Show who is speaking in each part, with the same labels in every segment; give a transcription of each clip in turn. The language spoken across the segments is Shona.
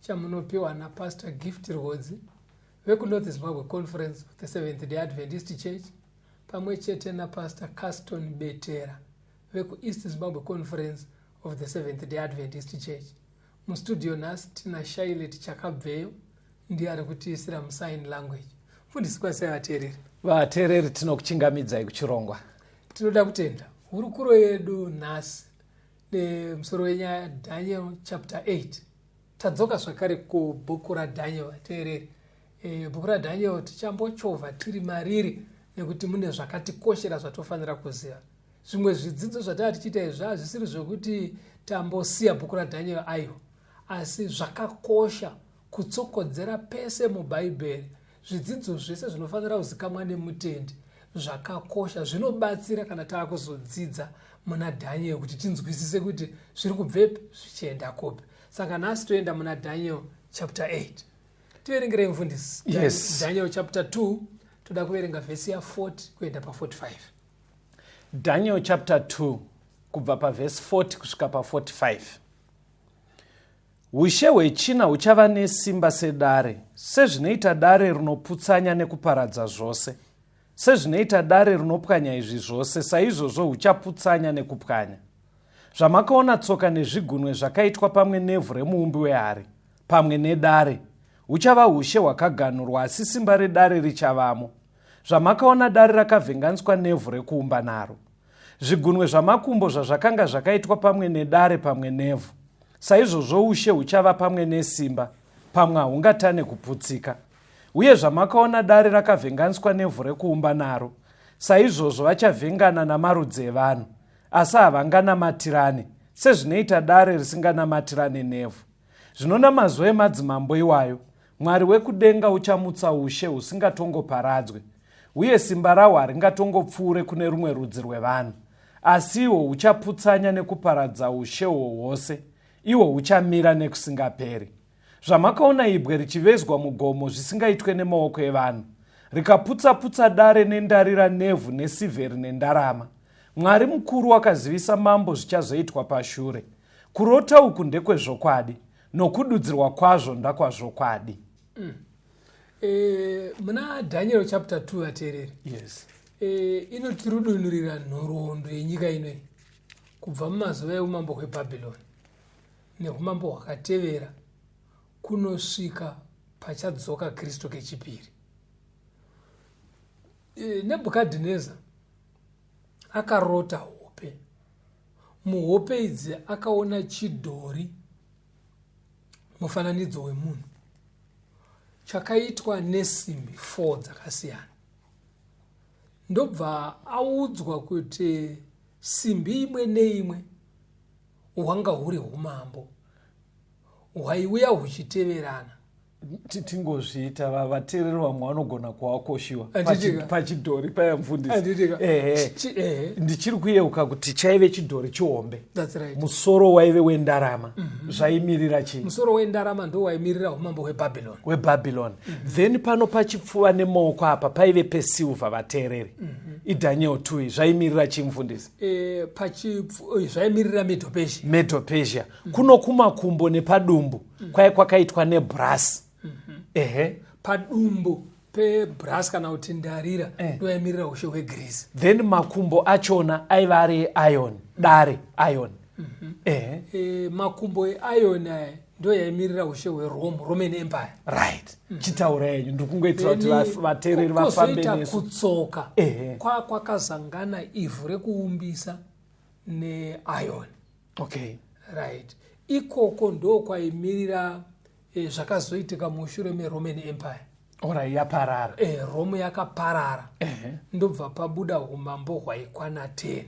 Speaker 1: chamunopiwa napastor gift rwodzi vekunorth zimbabwe conference of the seventh day adventist church pamwe chete napastor caston betera vekueast zimbabwe conference of the seventh day adventist church mustudio nhasi tina shailet chakabveyo ndiye ari kutiisira musign language mfundisi kwasai vateereri vateereri
Speaker 2: tinokuchingamidzai kuchirongwa tinoda kutenda
Speaker 1: hurukuro yedu nhasi nemusoro wenyaya daniel chapter 8 Tadzoka zvakare kubhuku raDhaniel vateereri. E, bhuku raDhaniel tichambochovha tiri mariri nekuti mune zvakatikoshera zvatofanira kuziva. Zvimwe zvidzidzo zvatava tichiita izvi hazvisiri zvekuti tambosiya bhuku raDhaniel ayo, asi zvakakosha kutsokodzera pese mubhaibheri Zvidzidzo zvese zvinofanira kuzikamwa nemutendi zvakakosha zvinobatsira kana taakuzodzidza muna Daniel kuti tinzwisise kuti zviri kubvepi zvichienda kupi. Saka nhasi toenda muna Daniel chapter 8. Tiverengerei mfundisi. Yes. Daniel chapter
Speaker 2: 2
Speaker 1: toda kuverenga vhesi ya 40 kuenda pa 45.
Speaker 2: Daniel chapter 2 kubva pavhesi 40 kusvika pa 45. Ushe hwechina huchava nesimba sedare, sezvinoita dare rinoputsanya nekuparadza zvose. Sezvinoita dare rinopwanya izvi zvose, saizvozvo huchaputsanya nekupwanya. Zvamakaona tsoka nezvigunwe zvakaitwa pamwe nevhu remuumbi wehari, pamwe nedare, huchava ushe hwakaganhurwa asi simba redare richavamo. Zvamakaona dare rakavhenganiswa nevhu rekuumba naro. Zvigunwe zvamakumbo zvazvakanga zvakaitwa pamwe nedare pamwe nevhu, saizvozvo ushe huchava pamwe nesimba, pamwe hahungatane kuputsika. Uye zvamakaona dare rakavhenganiswa nevhu rekuumba naro, saizvozvo vachavhengana namarudzi evanhu, asi havanganamatirane, sezvinoita dare risinganamatirane nevhu. Zvino namazuva emadzimambo iwayo, mwari wekudenga uchamutsa ushe husingatongoparadzwe uye simba rawo haringatongopfuure kune rumwe rudzi rwevanhu asiwo huchaputsanya nekuparadza ushe hwo hwose ihwo huchamira nekusingaperi zvamakaona ibwe richivezwa mugomo zvisingaitwe nemaoko evanhu rikaputsaputsa dare nendarira nevhu nesivheri nendarama mwari mukuru wakazivisa mambo zvichazoitwa pashure kurota uku ndekwezvokwadi nokududzirwa kwazvo ndakwazvokwadi mm. e,
Speaker 1: muna daniel chapter 2 vateereri yes. e,
Speaker 2: inotirudunurira
Speaker 1: nhoroondo yenyika inoi kubva mumazuva eumambo hwebhabhiloni neumambo hwakatevera kunosvika pachadzoka kristu kechipiri e, nebhukadhineza akarota hope muhope idzi akaona chidhori mufananidzo wemunhu chakaitwa nesimbi four dzakasiyana ndobva audzwa kuti simbi imwe neimwe hwanga huri umambo hwaiuya huchiteverana
Speaker 2: tingozviita vateereri vamwe vanogona kuwakoshiwa pachidhori paya mfundisi ndichiri kuyeuka kuti chaive chidhori chihombe musoro
Speaker 1: waive
Speaker 2: wendarama mhm. zvaimirira chii musoro wendarama ndo
Speaker 1: waimirira umambo hwebhabhiloni hwebhabhiloni
Speaker 2: mhm. then pano pachipfuva nemaoko apa paive pesilva vateereri mhm. idaniel tui zvaimirira chii mfundisi eh, eh, zvaimirira
Speaker 1: medopesia medopesia
Speaker 2: mm. kuno kumakumbo nepadumbu mm. kwaye kwakaitwa nebrasi mm -hmm. ehe padumbu
Speaker 1: pebras kana kuti ndarira eh. ndoyaimirira eh. ushe hwegreece then makumbo
Speaker 2: achona aiva ari eion dare eion mm -hmm. eh. eh, makumbo
Speaker 1: eion aya ndo yaimirira ushe hwerome roman empire right mm. chitaura
Speaker 2: yenyu ndikungoitira kuti vateereri vafambe nesu kutsoka eh.
Speaker 1: kwakazangana ivhu rekuumbisa neion okay.
Speaker 2: right
Speaker 1: ikoko ndokwaimirira eh, zvakazoitika mushure meroman empire ora yaparara
Speaker 2: eh, rome
Speaker 1: yakaparara uh -huh. ndobva pabuda umambo hwaikwana 10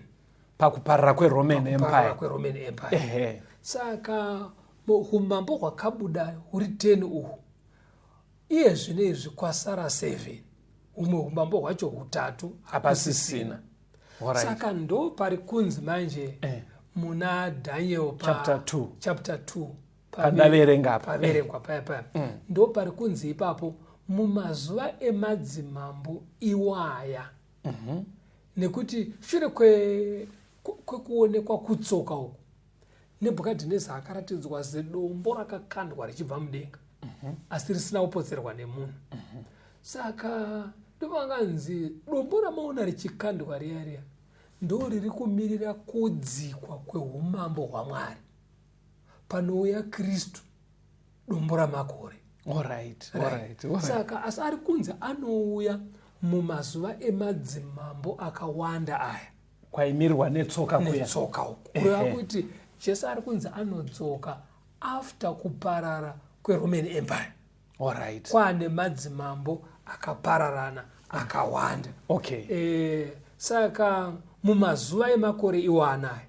Speaker 1: pakuparara
Speaker 2: kweroman empire, kweroman empire. Uh -huh. saka
Speaker 1: umambo hwakabuda huri 10 uhu iye zvino izvi kwasara 7 humwe umambo hwacho hutatu hapasisina saka ndo pari kunzi manje eh. muna daniel pachapter 2 pandaverenga
Speaker 2: paverengwa paya paya
Speaker 1: mm. ndo pari kunzi ipapo mumazuva emadzimambo iwaya mm -hmm. nekuti shure kwekuonekwa kwe kutsoka uku Nebhukadhineza akaratidzwa zidombo rakakandwa richibva mudenga mhm. asi risina kupotserwa nemunhu mhm. saka ndovanganzi dombo ramaona richikandwa riya riya ndo riri kumirira kudzikwa kweumambo hwamwari panouya kristu dombo ramakore
Speaker 2: saka
Speaker 1: asi ari kunzi anouya mumazuva emadzimambo akawanda aya kwaimirwa
Speaker 2: netsoka netsoka uku kureva
Speaker 1: kuti jesu ari kunzi anodzoka after kuparara kweroman empire right.
Speaker 2: kwane madzimambo
Speaker 1: akapararana akawanda okay. e,
Speaker 2: saka
Speaker 1: mumazuva emakore iwanaya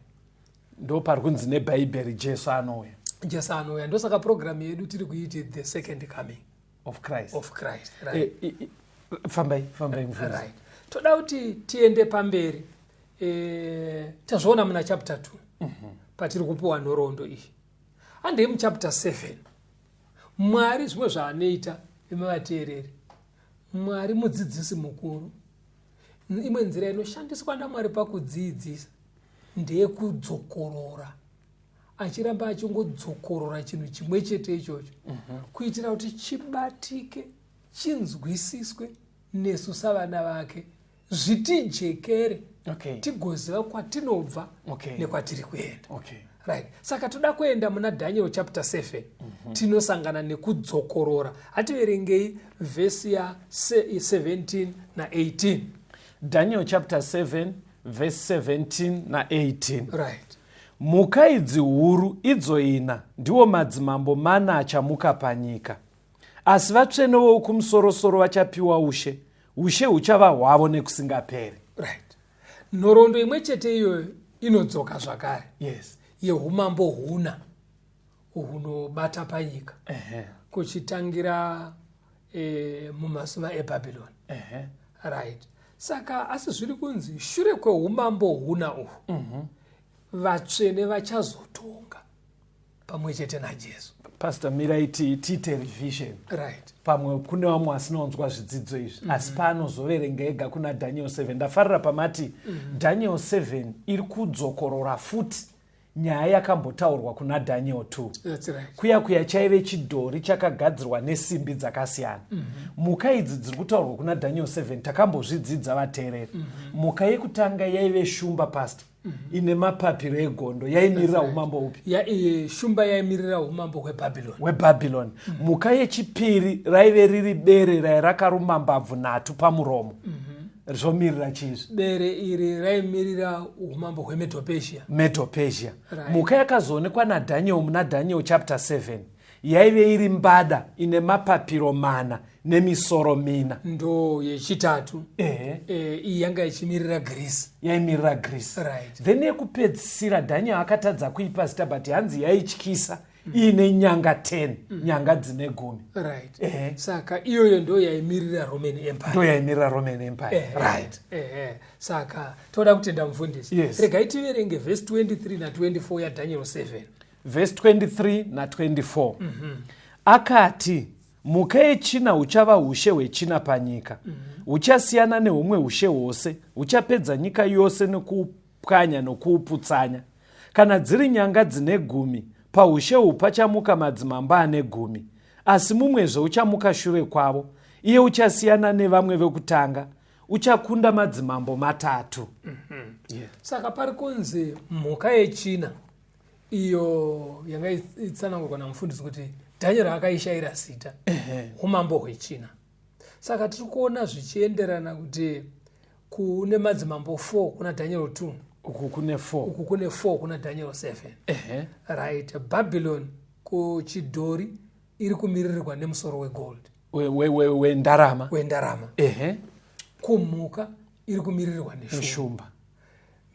Speaker 1: ndo
Speaker 2: pari kunzi nebhaibheri jesu anouya jesu anouya ndosaka
Speaker 1: purogiramu yedu tiri kuiti the second coming of christ, of
Speaker 2: christ right. e, e,
Speaker 1: e, fambai
Speaker 2: fambai mufundisi
Speaker 1: right. toda kuti tiende pamberi e, tazviona muna chapter 2 mm -hmm. patiri kupiwa nhoroondo iyi handei muchapter 7 mwari zvimwe zvaanoita imi vateereri mwari mudzidzisi mukuru imwe nzira inoshandiswa namwari pakudziidzisa ndeyekudzokorora achiramba achingodzokorora chinhu chimwe chete ichocho mhm. kuitira kuti chibatike chinzwisiswe nesu savana vake zvitijekere okay. tigoziva kwatinobva okay. nekwatiri kuenda okay. right saka toda kuenda muna daniel chapter 7 mm -hmm. tinosangana nekudzokorora hativerengei vhesi ya 17 na 18 daniel
Speaker 2: chapter 7 vhesi 17 na 18 right
Speaker 1: Mhuka
Speaker 2: idzi huru, idzo ina, ndiwo madzimambo mana achamuka panyika. Asi vatsvene voukumusoro-soro vachapiwa ushe, ushe huchava hwavo nekusingaperi. Right.
Speaker 1: Nhoroondo imwe chete iyoyo inodzoka zvakare. Yes.
Speaker 2: Yehumambo
Speaker 1: huna hunobata panyika. Uh -huh. Kuchitangira e, mumazuva ebhabhironi uh -huh. right saka asi zviri kunzi shure kweumambo huna uhwu uh mhm. -huh. vatsvene vachazotonga pamwe chete najesu pastor mirai
Speaker 2: tiite revision right pamwe
Speaker 1: kune vamwe
Speaker 2: vasinaunzwa zvidzidzo izvi mm -hmm. asi paanozoverenga ega kuna daniel 7 ndafarira pamati mm -hmm. daniel 7 iri kudzokorora futi nyaya yakambotaurwa kuna daniel t right. kuya kuya
Speaker 1: chaive
Speaker 2: chidhori chakagadzirwa nesimbi dzakasiyana mm -hmm. muka idzi dziri kutaurwa kuna daniel 7 takambozvidzidza vateereri mm -hmm. muka yekutanga yaive shumba past mm -hmm. ine mapapiro egondo yaimirira right. umambo upi ya, e, shumba yaimirira
Speaker 1: umambo hwebhabhiloni hwebhabhiloni
Speaker 2: mm -hmm. muka yechipiri raive riri bere rairakaruma mbabvu nhatu pamuromo mm -hmm. zvomirira chii izvi bere iri
Speaker 1: raimirira umambo hwemedopesia medopesia right. mhuka yakazoonekwa
Speaker 2: nadhaniel muna daniel chapter 7 yaive iri mbada ine mapapiro mana nemisoro mina ndo yechitatu
Speaker 1: ehe eh, iyi yanga ichimirira greece yaimirira greece
Speaker 2: right then
Speaker 1: yekupedzisira
Speaker 2: daniel akatadza kuipa zita but hanzi yaityisa mm. iine nyanga 10 mm. nyanga dzine gumi right. eh. saka
Speaker 1: iyoyo ndo yaimirira roman empire ndo yaimirira roman empire eh. right. eh.
Speaker 2: saka
Speaker 1: toda kutenda mufundisi yes. regai tiverenge
Speaker 2: vhesi 23
Speaker 1: na 24 yadaniel 7 vhesi
Speaker 2: 23 na 24 mm
Speaker 1: -hmm. akati
Speaker 2: mhuka yechina huchava ushe hwechina panyika huchasiyana mm -hmm. nehumwe ushe hwose huchapedza nyika yose nekupa pwanya nokuuputsanya. Kana dziri nyanga dzine gumi, paushe uhu pachamuka madzimambo ane gumi, asi mumwezve uchamuka shure kwavo, iye uchasiyana nevamwe vekutanga, uchakunda madzimambo matatu. Mm -hmm. yeah.
Speaker 1: Saka pari kunzi mhuka yechina iyo yanga itsanangurwa namufundisi kuti dhanyero akaishayira zita umambo hwechina saka tiri kuona zvichienderana kuti kune madzimambo 4 kuna daniel 2 uku kune
Speaker 2: 4 uku kune 4 kuna
Speaker 1: daniel 7 uh -huh. right babylon kuchidhori iri kumiririrwa nemusoro wegold wendarama
Speaker 2: we, we, wendarama uh -huh.
Speaker 1: kumhuka iri kumiririrwa neshumba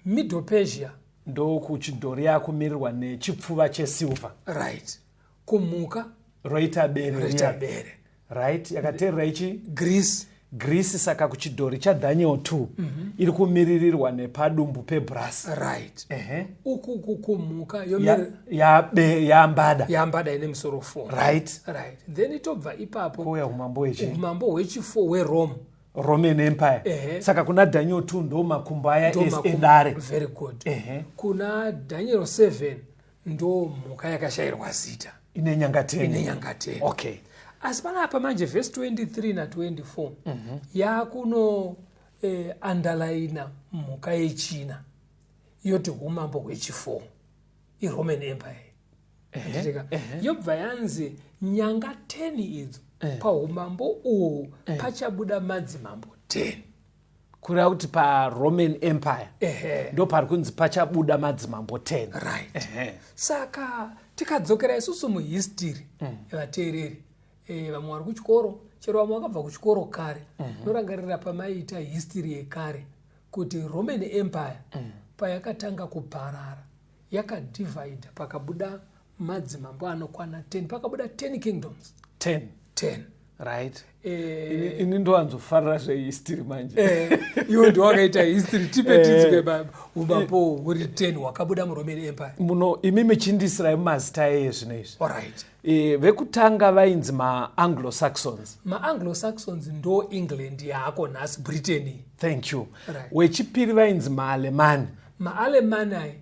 Speaker 1: middle persia ndokuchidhori
Speaker 2: yakumirirwa nechipfuva chesilver right
Speaker 1: kumhuka roita
Speaker 2: bere roita bere right yakateerera ichi greece greece saka kuchidhori chadaniel 2 mm -hmm. iri kumiririrwa nepadumbu pebras right uh -huh.
Speaker 1: uku kukumhuka yambada ya, ya yambada ine musoro 4 right right
Speaker 2: then itobva
Speaker 1: ipapo kuuya umambo hwechi
Speaker 2: umambo hwechifo
Speaker 1: hwerome roman empire
Speaker 2: uh -huh. saka kuna daniel 2 ndo makumbo aya edare very good uh -huh.
Speaker 1: kuna daniel 7 ndo mhuka yakashairwa zita ine nyangateni
Speaker 2: okay asi panapa
Speaker 1: manje vhesi 23 na24 mm -hmm. yakuno eh, andalaina mhuka yechina yoti umambo hwechifo iroman empire uh-huh. uh-huh. yobva yanzi nyanga 10 idzo uh-huh. paumambo uhu uh-huh. pachabuda madzimambo 10 kureva
Speaker 2: kuti paroman empire ndo pari kunzi pachabuda madzimambo 10 right
Speaker 1: saka tikadzokera isusu muhistiri mm. vateereri eh, vamwe vari kuchikoro chero vamwe vakabva kuchikoro kare mhm. norangarira pamaiita histiri yekare kuti roman empire mm. payakatanga kuparara yakadivhaidha pakabuda madzimambo anokwana 10 pakabuda 10 kingdoms 10 10 right
Speaker 2: eh, ini ndowanzofarira zvehistory manje eh, iwe ndiwakaita
Speaker 1: history tipe eh, tizwe umambo huri 10 hwakabuda muroman empire muno imi michindisira
Speaker 2: mazita eye zvino izvi alright eh,
Speaker 1: vekutanga
Speaker 2: vainzi maanglo saxons maanglo saxons
Speaker 1: ndo england yaako nhasi britain thank you
Speaker 2: right. wechipiri
Speaker 1: vainzi
Speaker 2: maalemani maalemani
Speaker 1: ayi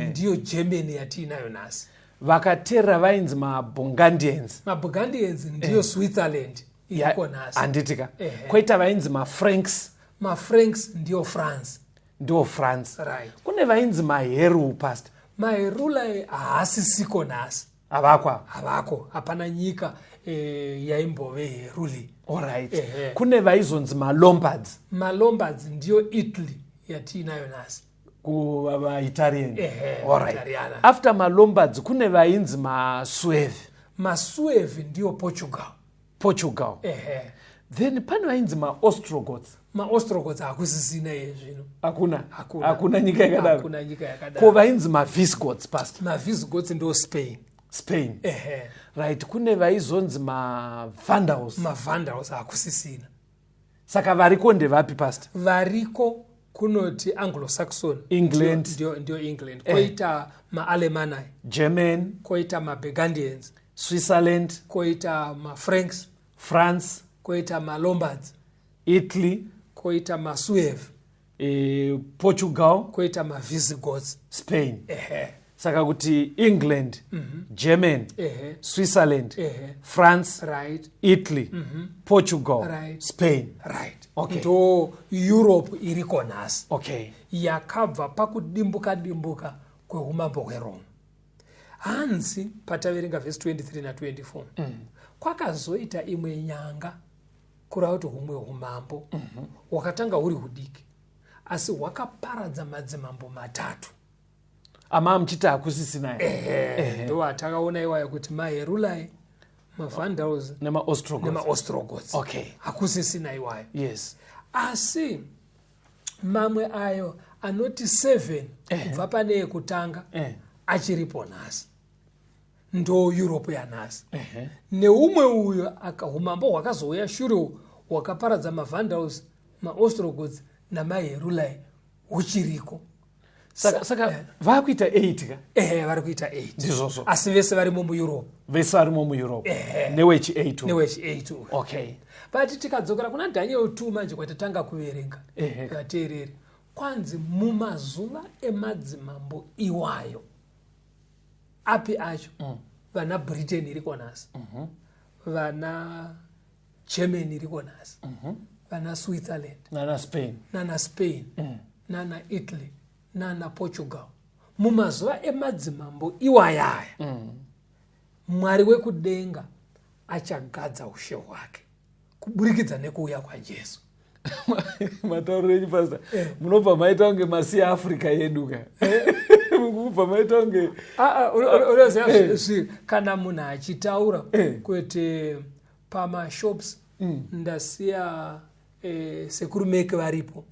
Speaker 1: ndiyo germany yatiinayo nhasi vakateerera
Speaker 2: vainzi mabungandians mabungandians
Speaker 1: ndiyo eh. switzerland iriko nhasi handitika koita
Speaker 2: vainzi mafranks mafranks
Speaker 1: ndiyo france ndiwo france
Speaker 2: right. kune vainzi
Speaker 1: maheru
Speaker 2: past maherula
Speaker 1: haasisiko nhasi havakwa havako hapana nyika e, yaimbove ruli orit eh,
Speaker 2: kune vaizonzi malombards malombards
Speaker 1: ndiyo italy yatiinayo nasi kuvaitarian
Speaker 2: eh, orit after malombards kune vainzi masueve masueve
Speaker 1: ndiyo portugal portugal ehe then pane vainzi
Speaker 2: maostrogots maostrogots
Speaker 1: hakusisina iye zvino hakuna Hakuna. hakuna
Speaker 2: nyika yakadaro hakuna nyika ko yakadaro vainzi mavisgots past mavisgots ndo
Speaker 1: spain spain ehe right
Speaker 2: kune vaizonzi mavandals mavandals
Speaker 1: hakusisina saka
Speaker 2: variko ndevapi past variko
Speaker 1: kunoti anglo-saxon england
Speaker 2: ndio england
Speaker 1: eh. koita eh. maalemanai german
Speaker 2: koita mabegandians
Speaker 1: switzerland
Speaker 2: koita
Speaker 1: mafranks france
Speaker 2: koita malombards
Speaker 1: italy
Speaker 2: koita
Speaker 1: masuev e,
Speaker 2: portugal koita
Speaker 1: mavisigots spain ehe
Speaker 2: saka kuti england mm -hmm. german ehe switzerland ehe france right italy
Speaker 1: mm -hmm.
Speaker 2: portugal right. spain
Speaker 1: right
Speaker 2: okay. ndo
Speaker 1: europe iriko nhasi okay
Speaker 2: yakabva
Speaker 1: pakudimbuka dimbuka kweumambo hweroma hanzi pataverenga vhesi 23 na24 mm. kwakazoita imwe nyanga kureva kuti humwe umambo mhm. hwakatanga huri hudiki asi hwakaparadza madzimambo matatu
Speaker 2: amaa muchiti hakusisina ndo
Speaker 1: atakaona iwayo kuti maherulai mavandals nemaostrogots hakusisina iwayo yes
Speaker 2: asi
Speaker 1: mamwe ayo anoti seven kubva pane yekutanga achiripo nhasi ndo europe yanhasi uh -huh. neumwe uyo umambo hwakazouya shure hwakaparadza mavandals maostrogods namaherulai huchiriko
Speaker 2: saka, saka yeah. vakuita 8 ka ehe vari kuita 8
Speaker 1: ndizvozvo asi vese
Speaker 2: varimo
Speaker 1: mueurope vese varimo mueurope
Speaker 2: ehe newechi 8 newechi 8 okay but tikadzokera
Speaker 1: kuna daniel 2 manje kwatatanga kuverenga ehe vateereri kwanzi mumazuva emadzimambo iwayo api acho mm. vana britain iriko nhasi mm -hmm. vana german iriko nhasi mm -hmm. vana switzerland nana spain nana spain mm. nana italy nana portugal mumazuva emadzimambo iwayaya mm. mwari wekudenga achagadza ushe hwake kuburikidza nekuuya kwajesu
Speaker 2: matauriro enyu pastor eh. munobva maita kunge masi africa yedu ka eh. mukubva maita kunge ah, ah, unoziva
Speaker 1: eh. kana munhu achitaura kuti pamashops mm. ndasiya Eh, sekuru meke varipo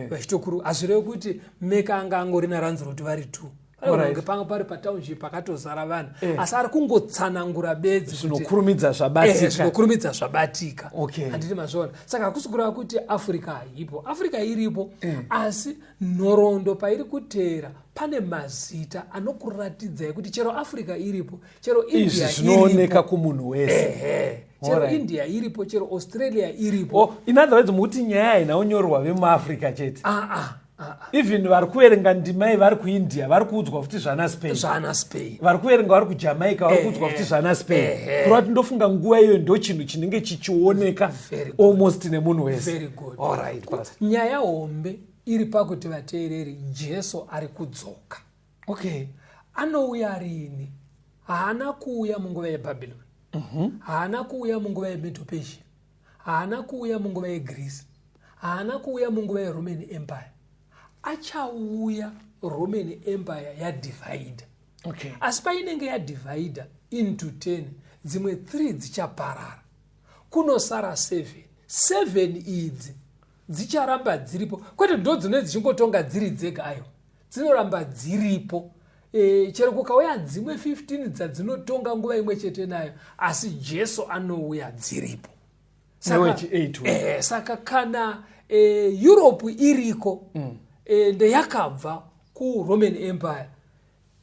Speaker 1: vachitokuru hazvirevi kuti meke anga angori naranzuro kuti vari two unenge panga pari patownship pakatozara vanhu eh. asi ari kungotsanangura bedzi zvinokurumidza zvabatika
Speaker 2: eh, zvinokurumidza
Speaker 1: zvabatika handiti mazviona saka hakusi kureva kuti africa haipo africa iripo eh. asi nhoroondo pairi kuteera pane mazita anokuratidzai kuti chero africa iripo chero india zvinooneka kumunhu
Speaker 2: wese chero india
Speaker 1: iripo chero australia iripo oh, in other words mukuti
Speaker 2: nyaya haina unyorwa vemuafrica chete ah, ah. even vari kuverenga ndimai vari kuindia vari kuudzwa futi zvana spain zvana spain vari kuverenga vari kujamaica vari kuudzwa futi zvana spain kureva kuti ndofunga nguva iyoyo ndo chinhu chinenge chichioneka almost nemunhu wese
Speaker 1: nyaya hombe iri pakuti vateereri jesu ari kudzoka okay anouya riini haana kuuya munguva yebhabhiloni mhm. haana kuuya munguva yemedopesia haana kuuya munguva yegreece haana kuuya munguva yeroman empire achauya roman empire yadivhaidha okay. asi painenge yadivhaidha into 10 dzimwe 3 dzichaparara kunosara 7 7 idzi dzicharamba dziripo kwete ndo dzinoi dzichingotonga dziri dzega ayo dzinoramba dziripo e, chero kukauya dzimwe 15 dzadzinotonga nguva imwe chete nayo asi jesu anouya dziripo saka, e, saka kana e, europe iriko mm. e, ndeyakabva kuroman empire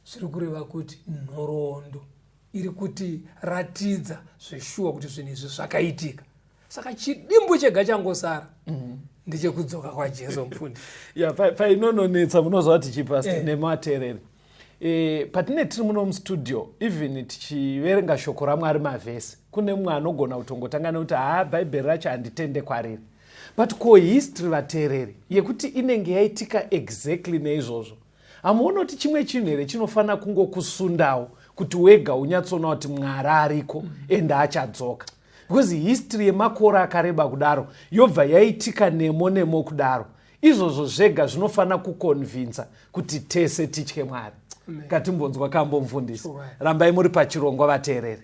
Speaker 1: zviri kureva kuti nhoroondo iri kuti ratidza zveshuwa kuti zvinhu izvi zvakaitika saka chidimbu chega changosara mm -hmm ndechekudzoka kwajesu mfundi ya painononetsa
Speaker 2: munoziva kuti chipast eh. nematerere eh, patine tiri muno mustudio even tichiverenga shoko ramwari mavhesi kune mumwe anogona kutongotanga nekuti haa bhaibheri racho handitende kwariri but ko history vateereri yekuti inenge yaitika exactly neizvozvo hamuoni kuti chimwe chinhu here chinofanira kungokusundawo kuti wega unyatsoona kuti mwari ariko mm. ende achadzoka because history yemakore akareba kudaro yobva yaitika nemo nemo kudaro izvozvo zvega zvinofanira kukonvinsa kuti tese titye mwari katimbonzwa kambo mfundisi rambai muri pachirongwa vateereri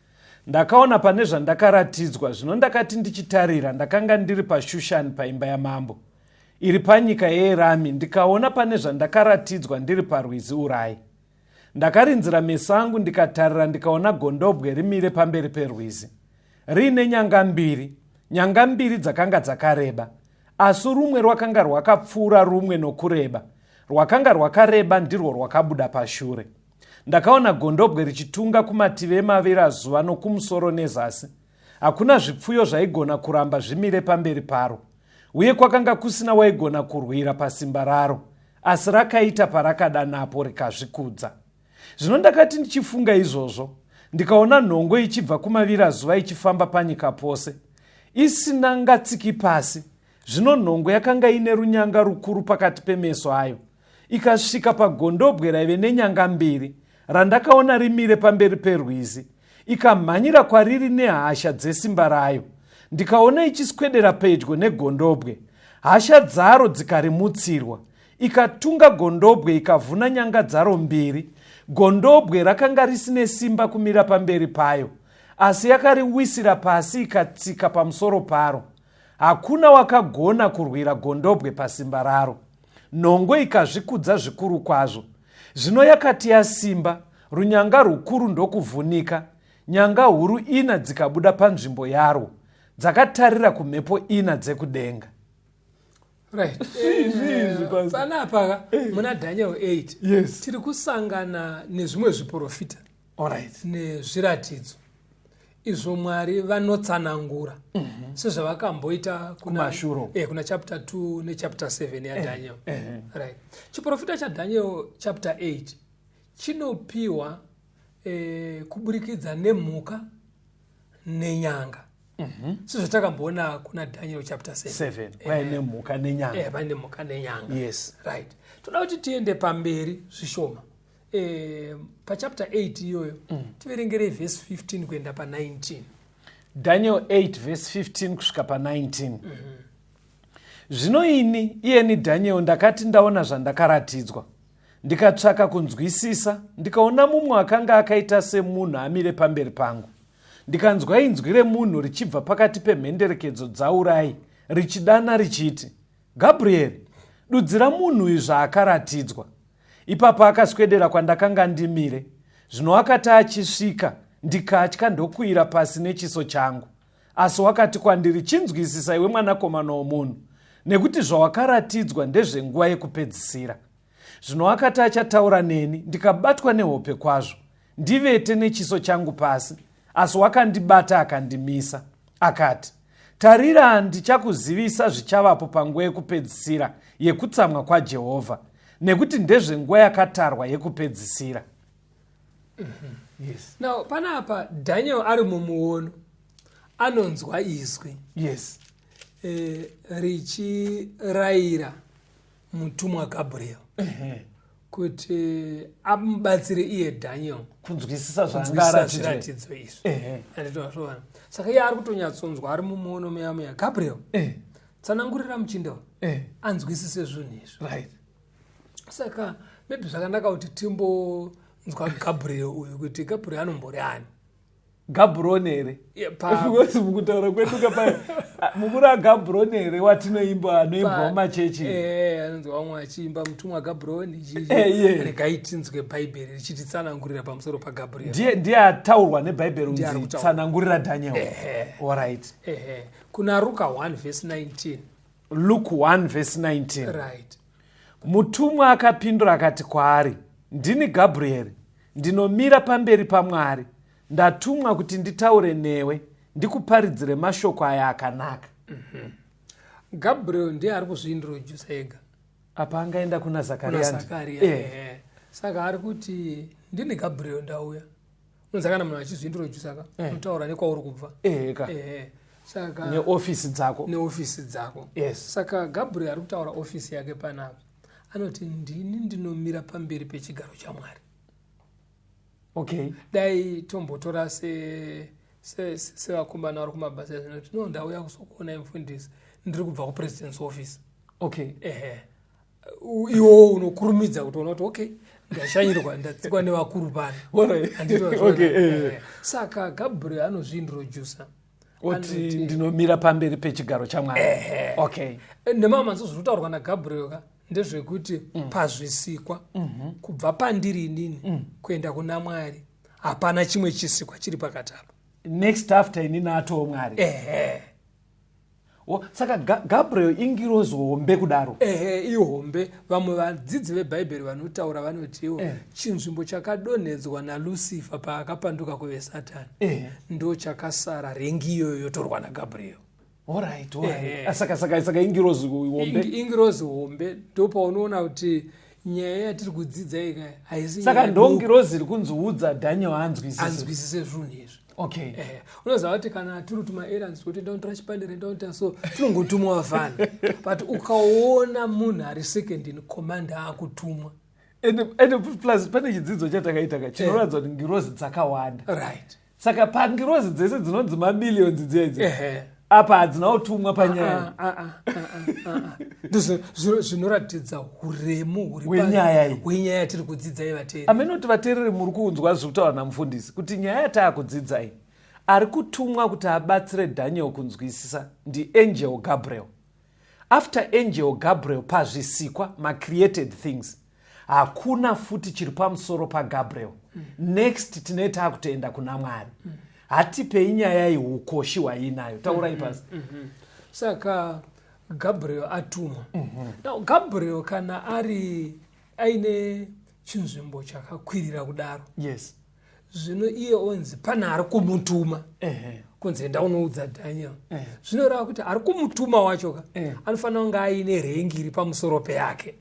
Speaker 2: Ndakaona pane zvandakaratidzwa zvino ndakati ndichitarira ndakanga ndiri paShushani paimba yamambo iri panyika yeErami ndikaona pane zvandakaratidzwa ndiri parwizi Urai. Ndakarinzira meso angu ndikatarira ndikaona gondobwe rimire pamberi perwizi riine nyanga mbiri nyanga mbiri dzakanga dzakareba asi rumwe rwakanga rwakapfuura rumwe nokureba rwakanga rwakareba ndirwo rwakabuda pashure ndakaona gondobwe richitunga kumativi emavirazuva nokumusoro nezasi hakuna zvipfuyo zvaigona kuramba zvimire pamberi paro uye kwakanga kusina waigona kurwira pasimba raro asi rakaita parakada napo rikazvikudza zvino ndakati ndichifunga izvozvo ndikaona nhongo ichibva kumavirazuva ichifamba panyika pose isina ngatsiki pasi zvino nhongo yakanga ine runyanga rukuru pakati pemeso ayo ikasvika pagondobwe raive nenyanga mbiri randakaona rimire pamberi perwizi ikamhanyira kwariri nehasha dzesimba rayo ndikaona ichiswedera pedyo negondobwe hasha dzaro dzikarimutsirwa ikatunga gondobwe ikavhuna nyanga dzaro mbiri gondobwe rakanga risine simba kumira pamberi payo asi yakariwisira pasi ikatsika pamusoro paro hakuna wakagona kurwira gondobwe pasimba raro Nhongo ikazvikudza zvikuru kwazvo. Zvino yakati yasimba, runyanga rwukuru ndokuvhunika, nyanga huru ina dzikabuda panzvimbo yarwo, dzakatarira kumhepo ina dzekudenga.
Speaker 1: Right. Panapa muna Daniel 8 yes. tiri
Speaker 2: kusangana
Speaker 1: nezvimwe zviporofita Alright.
Speaker 2: nezviratidzo
Speaker 1: izvo mwari vanotsanangura mm -hmm. sezvavakamboita kuna, eh, kuna chapter 2 nechapter 7 yadaniel eh, eh, eh. right. chiprofita chadaniel chapter 8 chinopiwa eh, kuburikidza nemhuka nenyanga mm -hmm. sezvatakamboona kuna daniel chapter 7 paine eh, mhuka
Speaker 2: nenyanga eh, paine mhuka nenyanga
Speaker 1: yes. right
Speaker 2: toda kuti
Speaker 1: tiende pamberi zvishoma eh, pachapter 8 iyoyo mm. tiverengerei vhesi 15 kuenda pa19 daniel
Speaker 2: 8 vhesi 15 kusvika pa19 mm -hmm. zvino ini iyeni daniel ndakati ndaona zvandakaratidzwa ndikatsvaka kunzwisisa ndikaona mumwe akanga akaita semunhu amire pamberi pangu ndikanzwa inzwi remunhu richibva pakati pemhenderekedzo dzaurai richidana richiti Gabriel, dudzira munhu uyu zvaakaratidzwa. Ipapo akaswedera kwandakanga ndimire. Zvino wakati achisvika, ndikatya ndokuira pasi nechiso changu. Asi wakati kwandiri, chinzwisisa iwe mwanakomana womunhu, nekuti zvawakaratidzwa ndezvenguva yekupedzisira. zvino akati achataura neni ndikabatwa nehope kwazvo ndivete nechiso changu pasi asi wakandibata akandimisa akati tarira ndichakuzivisa zvichavapo panguva yekupedzisira yekutsamwa kwajehovha nekuti ndezvenguva yakatarwa yekupedzisira mm-hmm.
Speaker 1: yes. now pana apa daniel ari mumuono anonzwa izwi yes e, richirayira mutumwa gabriel kuti amubatsire iye daniel kunzwisisa
Speaker 2: zvaangaratidzoiratidzo izvi
Speaker 1: anditozviona saka iye ari kutonyatsonzwa ari mumuono meya meya gabriel tsanangurira muchinda wa anzwisise zvinhu izvi
Speaker 2: saka
Speaker 1: maybe zvakanaka kuti timbonzwa gabriel uyu kuti gabriel anombori ani gabrone
Speaker 2: here because mukutaura kwedu ka payo mukuru agabrone here watinoimba anoimbwa mumachechi eh, anonzi vamwe
Speaker 1: achiimba mutumwa agabrone eh, regai tinzwe bhaibheri richititsanangurira pamusoro pagabriel ndiye ataurwa
Speaker 2: nebhaibheri unzi tsanangurira daniel orit kuna
Speaker 1: ruka 1 vhesi 19 luke 1
Speaker 2: vhesi 19 right
Speaker 1: Mutumwa
Speaker 2: akapindura akati kwaari, Ndini Gabrieri, ndinomira pamberi paMwari. Ndatumwa kuti nditaure newe, ndikuparidzire mashoko aya akanaka. Mhm.
Speaker 1: Gabriel ndiye ari kuzviintrodusa ega. Apa angaenda
Speaker 2: kuna Zakaria. Kuna Zakaria. Eh. eh. Saka ari
Speaker 1: kuti ndini Gabriel ndauya. unza kana munhu achizvindirojusa ka eh. unotaura nekwauri kubva ehe ka ehe saka neofisi
Speaker 2: dzako neofisi dzako
Speaker 1: yes saka
Speaker 2: gabriel ari
Speaker 1: kutaura ofisi yake panapa anoti ndini ndinomira pamberi pechigaro chamwari
Speaker 2: okay dai
Speaker 1: tombotora se sevakomana vari kumabasa zvinoti no ndauya kuzokuonai mufundisi ndiri kubva kupresidence office okay ehe
Speaker 2: iwo
Speaker 1: unokurumidza kutoona kuti okay ndashanyirwa ndatsikwa nevakuru pano eh, eh. saka gabriel anozviintroducer oti
Speaker 2: ndinomira pamberi pechigaro chamwari okay nemamwe manzvo zviri
Speaker 1: kutaurwa nagabriel ka ndezvekuti mm. pazvisikwa mhm. kubva pandiri inini mm. kuenda kuna mwari hapana chimwe chisikwa chiri pakati apa next after
Speaker 2: inini atoo mwari ehe saka gabriel ingirozi hombe kudaro ehe ihombe
Speaker 1: vamwe vadzidzi vebhaibheri vanotaura vanotiwo eh. chinzvimbo chakadonhedzwa nalusifa paakapanduka kuve satani eh. ndo chakasara rengi iyoyo yotorwa nagabriel orit eh,
Speaker 2: ah, sakasaka ingirozi hombe ingirozi hombe
Speaker 1: ndo paunoona kuti nyaya yatiri kudzidza ikaya haisisaka ndongirozi iri
Speaker 2: kunziudza daniel anzwisise zvinhu izvi
Speaker 1: okay eh,
Speaker 2: unoziva kuti kana
Speaker 1: tiri tuma errands kuti ndaotora chipande rendaoita so tinongotumwa vafana but ukaona munhu ari second in command akutumwa ende
Speaker 2: plus pane chidzidzo chatakaita ka chinoratidza eh. kuti ngirozi dzakawanda right saka
Speaker 1: pangirozi
Speaker 2: dzese dzinonzi mamillions dzedzi apa hadzina utumwa panyaya ah, ah, ah,
Speaker 1: ndozvinoratidza huremu hwenyaya yatiri kudzidzai vateereri amene kuti vateereri muri
Speaker 2: kunzwa zviri kutaura namufundisi kuti nyaya yataakudzidzai ari kutumwa kuti abatsire daniel kunzwisisa ndiangel gabriel after angel gabriel pazvisikwa macreated things hakuna futi chiri pamusoro pagabriel mm. next tine taakutoenda kuna mwari mm. hatipei nyaya iyi ukoshi hwaiinayo taurai mm-hmm. pasi mm -hmm. saka
Speaker 1: gabriel atumwa mm -hmm. now gabriel kana ari aine chinzvimbo chakakwirira kudaro yes
Speaker 2: zvino iye
Speaker 1: onzi pane ari kumutuma uh -huh kunzi enda unoudza daniel eh. zvinoreva kuti ari kumutuma wacho ka eh. anofanira kunge aine rengi iri pamusoro peyake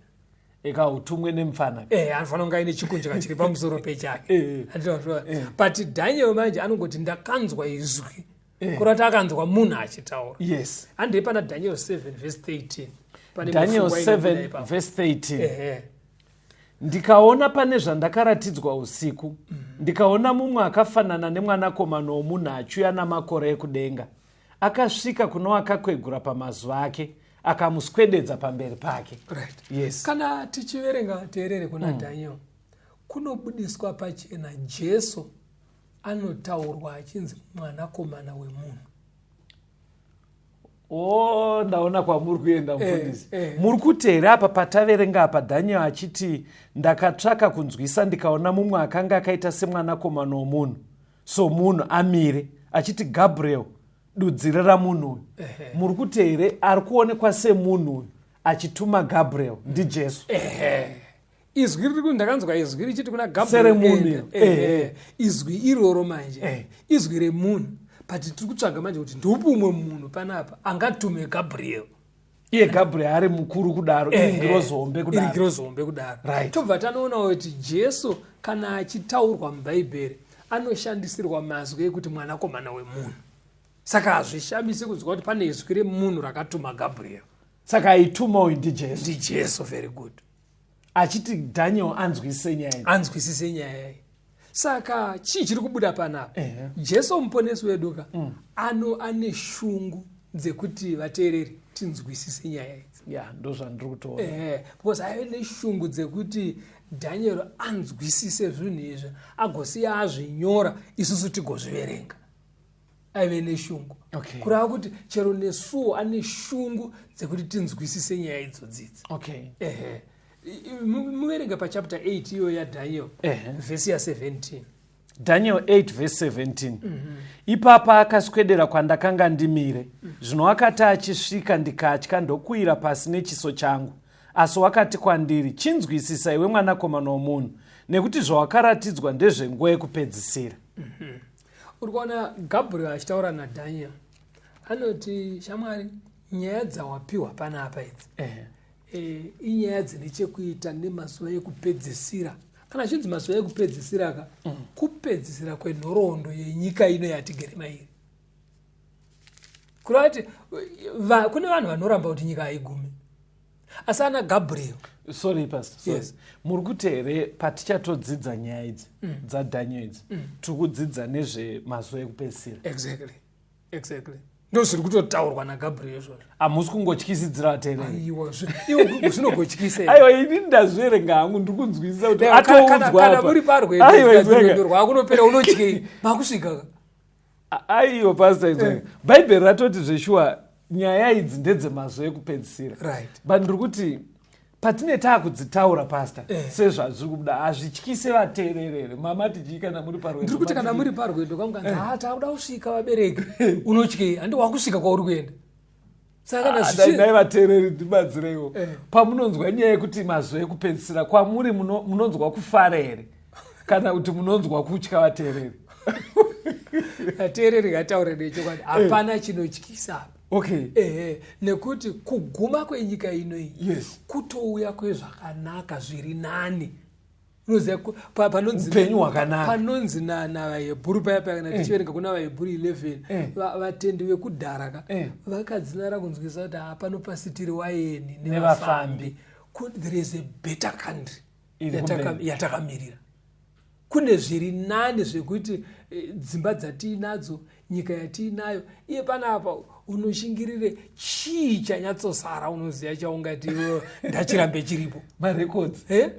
Speaker 1: eka utumwe
Speaker 2: nemfana eh anofanira kunge aine
Speaker 1: chikunjika chiri pamusoro pechake eh, eh. Eh. but daniel manje anongoti ndakanzwa izwi kurati akanzwa munhu achitaura yes handei pana
Speaker 2: daniel 7
Speaker 1: vese 13 daniel
Speaker 2: 7 vese 13 ndikaona pane zvandakaratidzwa usiku mm. ndikaona mumwe akafanana nemwanakomana womunhu achiuya namakore ekudenga akasvika kuno akakwegura pamazuva ake akamuswededza pamberi pake right. yes. kana tichiverenga
Speaker 1: teerere kuna mm. daniel kunobudiswa pachena jesu anotaurwa achinzi mwanakomana wemunhu
Speaker 2: o oh, ndaona kwamuri kuenda eh, mufundisi eh, eh. muri kuteera apa pataverenga apa daniel achiti ndakatsvaka kunzwisa ndikaona mumwe akanga akaita semwanakomana womunhu somunhu amire achiti gabriel dudzirira munhu uyu muri kuti here ari kuonekwa semunhu uyu achituma gabriel ndijesu
Speaker 1: izwi riri ndakanzwa izwi richiti kuna gabriel izwi iroro manje izwi remunhu but tiri kutsvaga manje kuti ndiupi umwe munhu panapa angatume gabriel iye gabriel
Speaker 2: ari mukuru kudaro iri ngirozi hombe kudaro iri ngirozi hombe kudaro right tobva tanoonawo
Speaker 1: kuti jesu kana achitaurwa mubhaibheri anoshandisirwa mazwi ekuti mwanakomana wemunhu saka hazvishamisi kunzwa kuti pane izwi remunhu rakatuma gabriel saka aituma
Speaker 2: uyu ndijesu ndijesu very
Speaker 1: good achiti
Speaker 2: daniel anzwisise nyaya anzwisise nyaya iyi saka chii chiri kubuda panapa jesu muponesi wedu ka mm. ano ane shungu dzekuti vateereri tinzwisise nyaya idzi ya ndozvandiri kutoona ehe because aive
Speaker 1: neshungu dzekuti dhanyero anzwisise zvinhu izvi agosiya azvinyora isusu tigozviverenga aive neshungu okay. kurava kuti chero nesuwo ane shungu dzekuti tinzwisise nyaya idzodzidzi okay. ehe muverenge pachapter 8 iyo yadaniel vhesi ya 17 daniel 8
Speaker 2: vhesi 17 mm -hmm. ipapa akaswedera kwandakanga ndimire mm -hmm. zvino akati achisvika ndikatya ndokuira pasi nechiso changu asi wakati kwandiri chinzwisisa iwe mwanakomana womunhu nekuti zvawakaratidzwa ndezvenguva yekupedzisira mm -hmm.
Speaker 1: uri kuona gabriel achitaura nadaniel anoti shamwari nyaya dzawapiwa pana apa idzi eh. eh, inyaya dzine chekuita nemazuva ekupedzisira kana zvinzi mazuva ekupedzisira ka mm. kupedzisira kwenhoroondo yenyika ino yatigere mairi kureva kuti kune vanhu vanoramba kuti nyika haigumi asi ana gabriel sorry pastor sorry.
Speaker 2: Yes. muri kuti here patichatodzidza nyaya idzi mm. dzadaniel idzi mm. tiri kudzidza nezvemazuva ekupedzisira exactly
Speaker 1: exactly ndozviri kutotaurwa nagabriel izvozvo hamusi kungotyisidzira
Speaker 2: vatereiaiwazvinogotyisaiwa
Speaker 1: ini ndazverenga
Speaker 2: hangu ndiri kunzwisisa kuti atoudzwaaiwa
Speaker 1: rwakunopera unotyei makusvika
Speaker 2: aiyo pasta idzo eh. bhaibheri ratoti zveshuwa nyaya idzi ndedzemazvo ekupedzisira right. but ndiri kuti patine taakudzitaura pasta eh. sezvazviri kubuda hazvityise vateererere mama tichii kana muri parwendondiri kuti kana muri parwendo
Speaker 1: kamukanzi eh. ha ah, taakuda kusvika vabereki unotyei handi wakusvika kwauri kuenda sakadai ah, vateereri
Speaker 2: ndibatsireiwo eh. pamunonzwa nyaya yekuti mazuva ekupedzisira kwamuri munonzwa kufara here kana kuti munonzwa kutya vateereri vateereri
Speaker 1: ngataure nechokwadi eh. hapana chinotyisa okay ehe
Speaker 2: nekuti
Speaker 1: kuguma kwenyika ino iyi yes. kutouya kwezvakanaka zviri nani upenyu
Speaker 2: hwakanakapanonzi
Speaker 1: navahebhuru paya paya kana eh. tichiverenga kuna vahebhuru 11 eh. vatendi vekudhara ka eh. vakadzinara kunzwisa kuti hapano pasitiri waeni nevafambi there is a better country yatakamirira kune zviri nani zvekuti dzimba dzatiinadzo nyika yatiinayo iye panapa unoshingirire chii chanyatsosara unoziva chaungati ndachirambe chiripo marecords
Speaker 2: eh?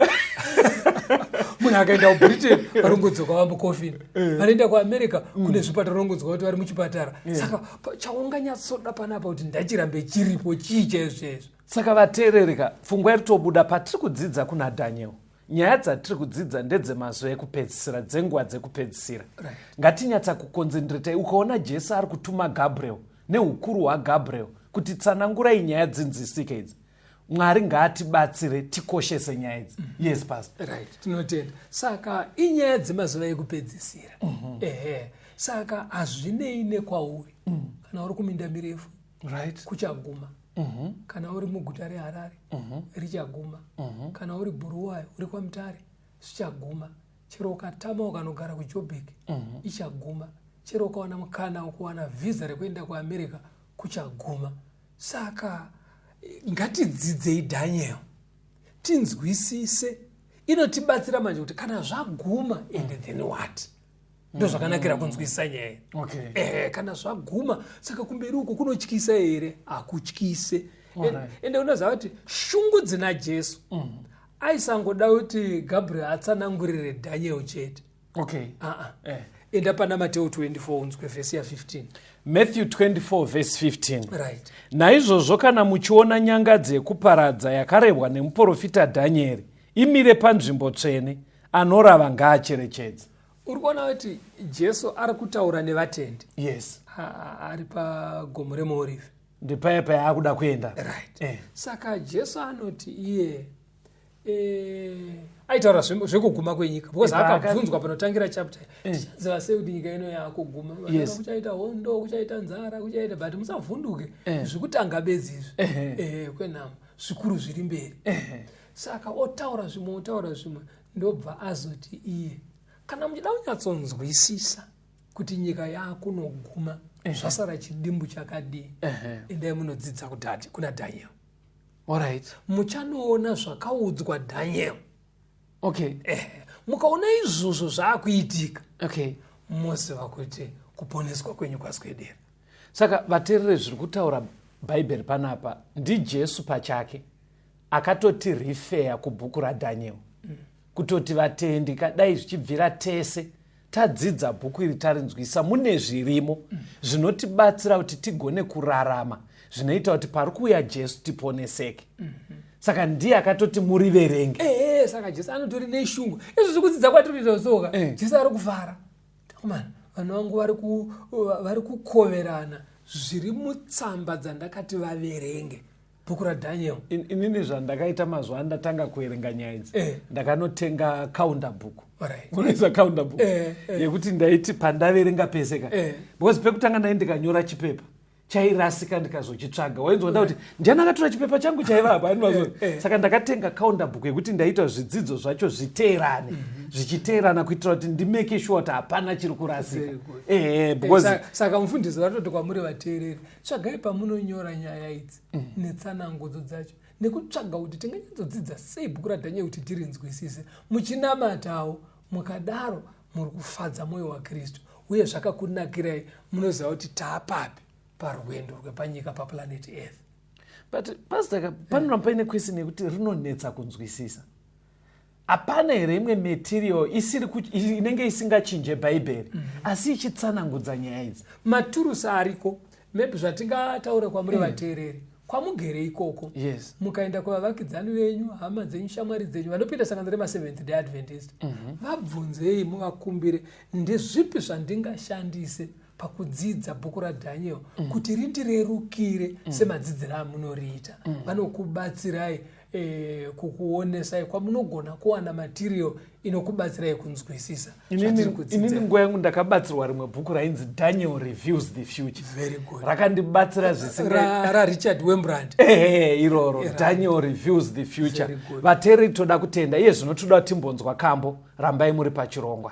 Speaker 1: munhu akaenda kubritain varongodzoka vamukofini eh. vanoenda kuamerica mm. kune zvipatara varongodzoka kuti vari muchipatara eh. saka chaunganyatsoda panapa kuti ndachirambe chiripo chii chaizvo chaizvo saka vateerereka
Speaker 2: pfungwa iritobuda patiri kudzidza kuna daniel nyaya dzatiri kudzidza ndedzemazuva ekupedzisira dzenguva dzekupedzisira ngatinyatsa kukonzendiretai ukaona jesu ari kutuma gabriel neukuru hwagabriel kuti tsanangurai nyaya dzinzisike idzi mwari ngaatibatsire tikoshese nyaya idzi mm -hmm. yes pas right tinotenda
Speaker 1: saka inyaya dzemazuva ekupedzisira mm -hmm. ehe saka hazvinei nekwauri mm -hmm. kana uri kuminda mirefu right. kuchaguma
Speaker 2: mm
Speaker 1: -hmm. kana uri muguta reharare mm -hmm. richaguma mm -hmm. kana uri buruwayo uri kwamutare zvichaguma chero ukatama ukanogara kujobek mm -hmm. ichaguma chero ukawana mukana ukuwana vhisa rekuenda kuamerica kuchaguma saka ngatidzidzei daniel tinzwisise inotibatsira manje kuti kana zvaguma ende then what ndozvakanakira kunzwisisa nyaya okay. eh, kana
Speaker 2: zvaguma
Speaker 1: saka kumberi uko kunotyisa here hakutyise ende unoziva kuti shungu dzina jesu mm. aisangoda kuti gabriel atsanangurire daniel chete okay.
Speaker 2: uh -uh. eh. enda
Speaker 1: pana mateo 24 unzwe vhesi ya 15 matthew 24
Speaker 2: vhesi 15 right. naizvozvo
Speaker 1: kana
Speaker 2: muchiona nyangadzi yekuparadza yakarebwa nemuprofita dhanieri imire panzvimbo tsvene anorava ngaacherechedze uri kuona kuti
Speaker 1: jesu ari kutaura nevatendi yes
Speaker 2: ari
Speaker 1: pagomo remuorive ndipaye paye
Speaker 2: akuda kuenda right eh. saka
Speaker 1: jesu anoti iye eh, aitaura zvekuguma kwenyika because akabvunzwa panotangira chapter eh. tichaziva sei kuti nyika ino yakuguma yes. kuchaita
Speaker 2: hondo
Speaker 1: kuchaita nzara kuchaita but musavhunduke eh. zvikutanga bedzi izvi eh. eh, kwenhamo zvikuru zviri mberi eh. saka otaura zvimwe otaura zvimwe ndobva azoti iye kana muchida kunyatsonzwisisa kuti nyika yaakunoguma eh. zvasara chidimbu chakadii endai munodzidza kudhadi kuna daniel orit
Speaker 2: muchanoona
Speaker 1: zvakaudzwa daniel okay
Speaker 2: eh, mukaona
Speaker 1: izvozvo zvaakuitika okay
Speaker 2: moziva kuti
Speaker 1: kuponeswa kwenyu kwaswedera saka
Speaker 2: vaterere zviri kutaura bhaibheri panapa ndijesu pachake akatoti refeya kubhuku radaniel mm. kutoti vatendi kadai zvichibvira tese tadzidza bhuku iri tarinzwisa mune zvirimo mm. zvinotibatsira kuti tigone kurarama zvinoita kuti pari kuuya jesu tiponeseke mm -hmm saka ndiye akatoti muriverenge eh, eh, eh, saka jesu
Speaker 1: anotori neshungu izvo zvikudzidza kwatiriita soka jesu ari kufara takomana vanhu vangu vari kukoverana zviri mutsamba dzandakati vaverenge bhuku radhaniel In- inini zvandakaita
Speaker 2: mazuva andatanga kuverenga nyaya idzi Eh. ndakanotenga counter book Alright. unoisa counter book Eh, eh. yekuti ndaiti pandaverenga pese ka Eh. because pekutanga ndai ndikanyora chipepa chairasika ndikazochitsvaga wainzonda kuti ndiani akatora chipepa changu chaiva apa Ani mazuva- Eh, eh. saka ndakatenga counter book yekuti ndaita zvidzidzo zvacho zviteerane Mhm. zvichiteerana kuitira kuti ndimake sure kuti hapana chiri kurasika Very good. ehe Eh, because sa-
Speaker 1: saka mufundisi vatoti kwamuri vateereri tsvagai pamunonyora nyaya idzi mm. netsanangudzo dzacho nekutsvaga kuti tinganyatsodzidza sei bhuku radhanyai kuti tirinzwisise muchinamatawo mukadaro muri kufadza mwoyo wakristu uye zvakakunakirai munoziva kuti taapapi parwendo rwepanyika paplanet earth but
Speaker 2: pastaka panoramba paine question yekuti rinonetsa kunzwisisa hapana here imwe material isiri inenge isingachinje bhaibheri mm -hmm. asi ichitsanangudza nyaya idzi maturusi ariko
Speaker 1: maybe zvatingataura kwamuri mm. vateereri kwamugere ikoko yes. mukaenda
Speaker 2: kuvavakidzani
Speaker 1: venyu hama dzenyu shamwari dzenyu vanopinda sangano remaseventh day adventist mm -hmm. vabvunzei muvakumbire ndezvipi zvandingashandise pakudzidza bhuku radhaniel mm. kuti rindirerukire mm. semadzidziro amunoriita mm. vanokubatsirai eh, kukuonesai kwamunogona kuwana material inokubatsirai kunzwisisa inini
Speaker 2: nguva yangu ndakabatsirwa rimwe bhuku rainzi daniel reviews the future rakandibatsira zvisingarichard wembrand
Speaker 1: ehe iroro
Speaker 2: daniel reviews the future vateri toda kutenda iye zvino toda timbonzwa kambo rambai muri pachirongwa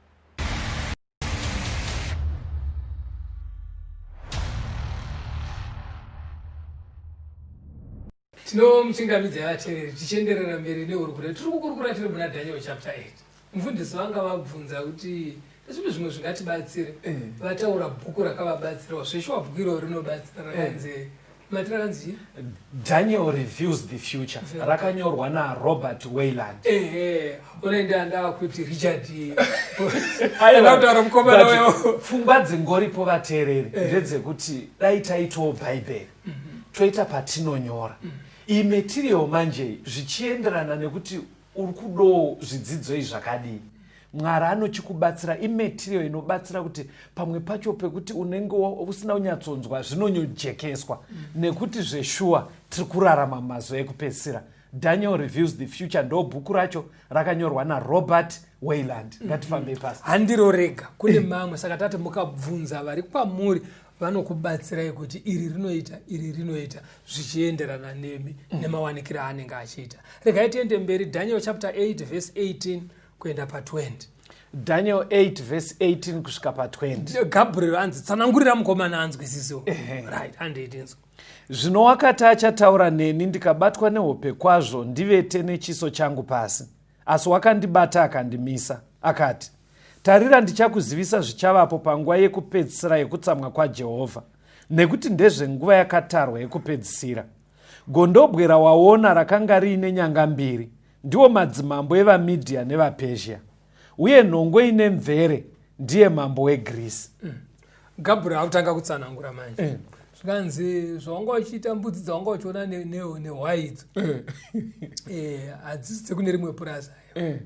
Speaker 1: tinomuchingamidza yavateveri tichienderera mberi nehurukure tiri kukurukura tiri muna daniel chapter 8 mufundisi vanga vabvunza kuti zvimwe zvimwe zvingatibatsire eh. vataura bhuku rakavabatsirawo zveshuwa bhuku iro rinobatsira rakanzi eh. Daniel
Speaker 2: Reviews the Future rakanyorwa naRobert Weyland. Ehe, unoenda
Speaker 1: ndava kuti Richard.
Speaker 2: Aina kutaura mukomana wewo.
Speaker 1: Pfungwa dzingoripo
Speaker 2: vateereri eh. ndedzekuti dai taitawo Bhaibheri mhm. toita patinonyora. Mhm. Iyi material manje zvichienderana nekuti Uri kudoo zvidzidzoi zvakadii? Mwari anochikubatsira imaterial inobatsira kuti pamwe pacho pekuti unenge usina kunyatsonzwa zvinonyojekeswa mm. nekuti zveshuwa tiri kurarama mazuva ekupedzisira daniel reviews the future ndo bhuku racho rakanyorwa narobert wayland ngatifambei pasi handiro rega kune
Speaker 1: eh. mamwe saka tati mukabvunza vari kwamuri vanokubatsirai kuti iri rinoita iri rinoita zvichienderana nemi mm. nemawanikiro aanenge achiita regai tiende mberi daniel chapter 8 verse 18 kuenda pa20 daniel 8
Speaker 2: verse 18 kusvika pa20 gabriel anzi
Speaker 1: tsanangurira mukomana anzwisiso right andiitinzwa zvino wakati
Speaker 2: achataura neni ndikabatwa nehope kwazvo ndivete nechiso changu pasi asi wakandibata akandimisa akati Tarira, ndichakuzivisa zvichavapo panguva yekupedzisira yekutsamwa kwaJehovha, nekuti ndezvenguva yakatarwa yekupedzisira. Gondobwe rawaona rakanga riine nyanga mbiri, ndiwo madzimambo evaMidhiya nevaPezhia, uye nhongo ine mvere ndiye mambo weGreece. Mm. Gabriel
Speaker 1: akutanga kutsanangura manje. Mm. zvikanzi zvawanga uchiita mbudzi dzawanga uchiona nehwai idzo eh. eh, hadzisi dzekune rimwe purazi ayo eh.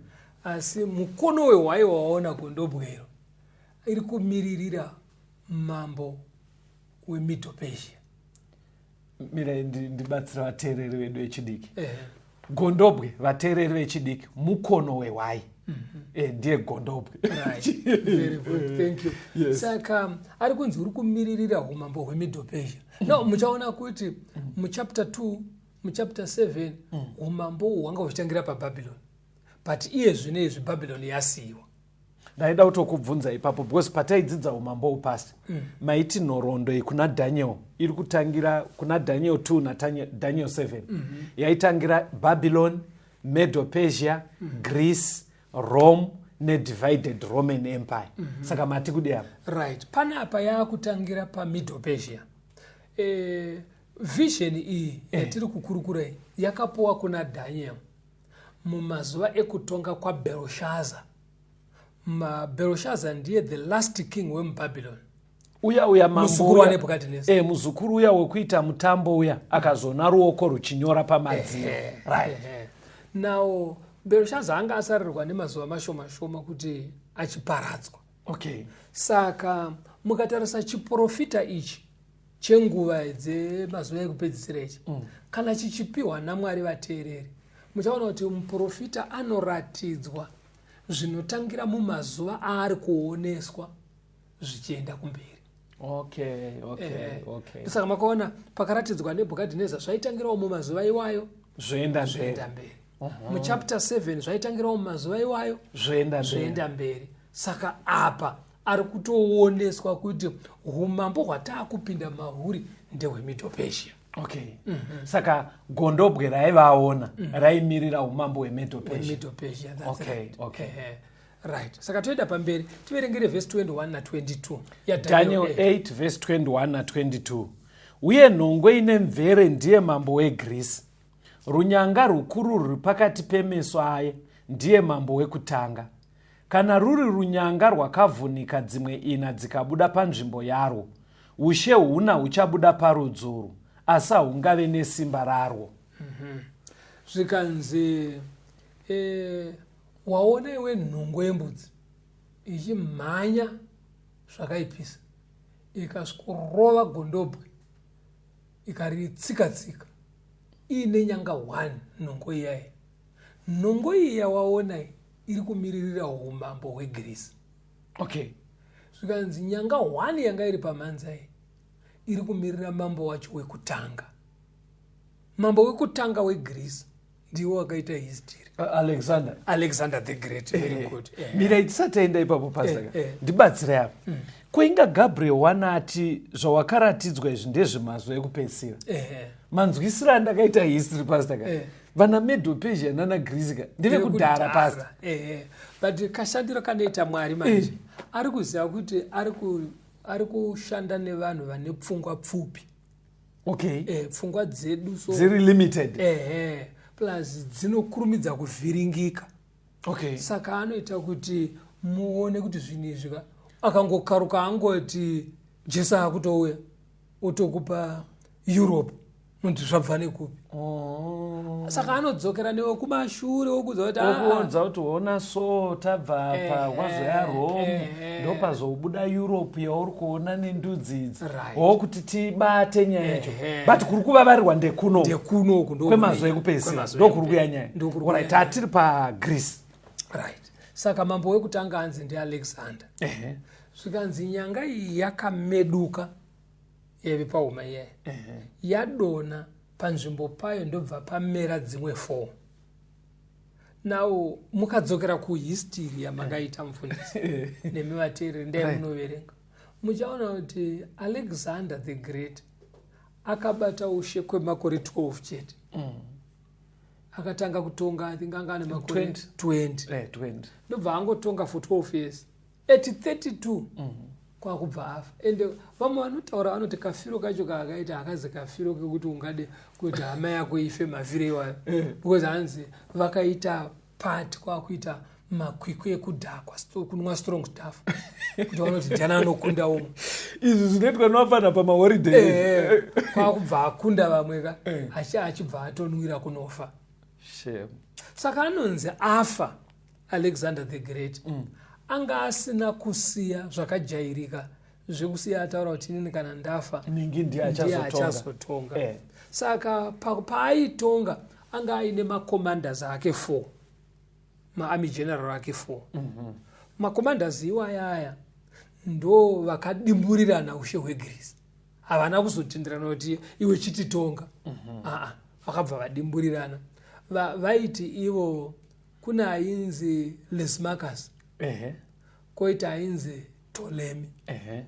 Speaker 1: asi mukono wehwai waona gondobwero iri kumiririra mambo wemiddle persia
Speaker 2: mirai ndibatsira vateereri vedu vechidiki gondobwe vateereri vechidiki mukono wehwai mhm. eh, ndiye gondobwe
Speaker 1: saka um, ari kunzi uri kumiririra umambo hwemiddle persia mm. no muchaona kuti mm. muchapter 2 muchapter 7 mm. umambo hwanga huchitangira pababylon but iye zvino izvi bhabhironi yasiyiwa ndaida
Speaker 2: kutokubvunza ipapo because pataidzidza umambo upasi mm. maiti nhoroondo iyi kuna daniel iri kutangira kuna daniel 2 nadaniel 7 mm -hmm. yaitangira babylon medo persia mm -hmm. greece rome nedivided roman empire mm -hmm. saka mati kudi apa right pane apa
Speaker 1: yaakutangira pamiddle persia e, vision iyi eh. yatiri kukurukurai yakapuwa kuna daniel Mumazuva ekutonga kwaBelshaza, Belshaza ndiye the last king wemuBabylon uya uya eh, muzukuru uya wekuita
Speaker 2: mutambo uya akazona ruoko ruchinyora pamadziro eh, right eh, now
Speaker 1: berushaza anga asarirwa nemazuva mashoma shoma kuti achiparadzwa okay
Speaker 2: saka
Speaker 1: mukatarisa chiprofita ichi chenguva dzemazuva ekupedzisira ichi mm. kana chichipiwa namwari vateereri muchaona kuti muprofita anoratidzwa zvinotangira mumazuva aari kuoneswa zvichienda kumberi okay,
Speaker 2: okay, eh, okay.
Speaker 1: saka makaona pakaratidzwa nebhukadhineza zvaitangirawo mumazuva iwayo zvoenda zvoenda mberi uh-huh. muchapter 7 zvaitangirawo mumazuva iwayo zvoenda mberi saka apa ari kutooneswa kuti umambo hwataakupinda mahuri ndehwemiddle persia okay mm -hmm.
Speaker 2: saka gondobwe raivaona mm -hmm. raimirira umambo hwemiddle persia okay. right.
Speaker 1: okay. uh
Speaker 2: -huh right
Speaker 1: saka toenda pamberi tiverengere vhesi 21 na 22 yadaniel 8
Speaker 2: vhesi 21 na 22 uye nhongwe ine mvere ndiye mambo wegreece runyanga rukuru ruri pakati pemeso aye ndiye mambo wekutanga Kana ruri runyanga rwakavhunika dzimwe ina dzikabuda panzvimbo yarwo, ushe huna huchabuda parudzuru, asi hahungave nesimba rarwo. Mhm. Zvikanzi,
Speaker 1: e, waona iwe nhungo yembudzi ichimhanya zvakaipisa ikasvikorova gondobwe ikaritsika-tsika iine nyanga one nhongo iyayi nhongo iyi yawaona iyi iri kumiririra umambo hwegirisi okay
Speaker 2: zvikanzi
Speaker 1: nyanga hwani yanga iri pamhanza iyi iri kumirira mambo wacho wekutanga mambo wekutanga wegirisi ndiwo wakaita history alexander alexander the great very eh, good eh. mirai tisataenda
Speaker 2: ipapo pasaka eh, ndibatsire apo mm. koinga gabriel wana ati zvawakaratidzwa izvi ndezvemazvo ekupedzisira manzwisiro andakaita history pasaka vana medo pesia nana greece ka ndeve kudhara pasta ehe but
Speaker 1: kashandiro kanoita mwari manje eh. ari kuziva kuti ari kushanda nevanhu vane pfungwa pfupi okay
Speaker 2: eh, pfungwa
Speaker 1: dzedu so dziri limited
Speaker 2: ehe plus
Speaker 1: dzinokurumidza kuvhiringika okay.
Speaker 2: saka anoita
Speaker 1: kuti muone kuti zvinhu izvi ka akangokaruka angoti jesu akutouya otokupa europe nonzi zvabva nekupi oh. saka anodzokera newe kumashure wokuza kuti ah. okuonza kuti ona
Speaker 2: so tabva apa eh, wazoya eh, rome eh. eh. ndopazobuda europe yauri kuona nendudzi idzi hoo right. kuti tibate nyaya yacho eh. but kuri kuvavarirwa ndekuno kwemazuva ekupedzisira ndokuri kuya nyaya orit hatiri pagreece right
Speaker 1: saka mambo wekutanga anzi ndialexander eh. zvikanzi nyanga iyi yakameduka yaive pahuma iyayi eh. yadona panzvimbo payo ndobva pamera dzimwe four now mukadzokera kuhistory yamakaita mufundisi nemi vateereri ndai right. munoverenga muchaona kuti alexander the great akabata ushe kwemakore 12 chete mm. akatanga kutonga i think anga ane makore 20 ndobva angotonga for 12 years at 32 mm. kwakubva afa ende vamwe vanotaura vanoti kafiro kacho kaakaita hakazi kafiro kekuti ungade kuti hama yako ife mavhire iwayo eh. because hanzi vakaita part kwakuita makwikwi ekudhakwa kunwa strong staff kuti vanoti jana anokunda umwe izvi zvinoitwa
Speaker 2: novafana pamahoriday eh, eh, eh. kwakubva
Speaker 1: akunda vamwe ka achibva atonwira kunofa saka anonzi afa alexander the great mm. anga asina kusiya zvakajairika zvekusiya ataura kuti inini kana ndafa ningi ndiye
Speaker 2: achazotonga
Speaker 1: eh. saka paaitonga pa anga aine macommanders ake four maarmy general ake four mm -hmm. macommanders iwaya aya ndo vakadimburirana ushe hwegirisi havana kuzotenderana kuti iwe chititonga mm -hmm. aa vakabva vadimburirana vaiti ivo kune ainzi lesmacus uh -huh. koita ainzi tolemi uh -huh.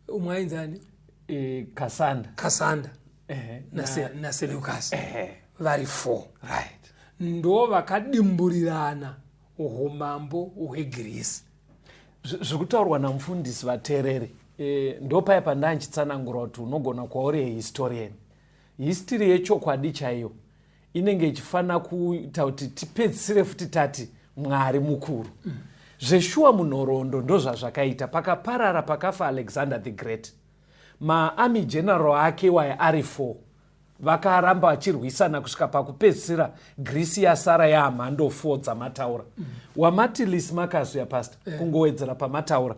Speaker 1: umwe ainzi ani e, kasanda kasanda uh -huh. naseleukas na uh -huh. vari four right.
Speaker 2: ndo
Speaker 1: vakadimburirana umambo hwegirisi
Speaker 2: zvikutaurwa namufundisi vateereri e, ndopaya pandaya ndichitsanangura kuti unogona kwauri historian histiri yechokwadi chaiyo inenge ichifanira kuita kuti tipedzisire futi tati mwari mukuru mm. zveshuwa munhoroondo ndozvazvakaita pakaparara pakafa alexander the great maarmy general ake waye ari four vakaramba vachirwisana kusvika pakupedzisira grisi yasara yaamhando four dzamataura mm. wamati lis marcus yapasta yeah. kungowedzera pamataura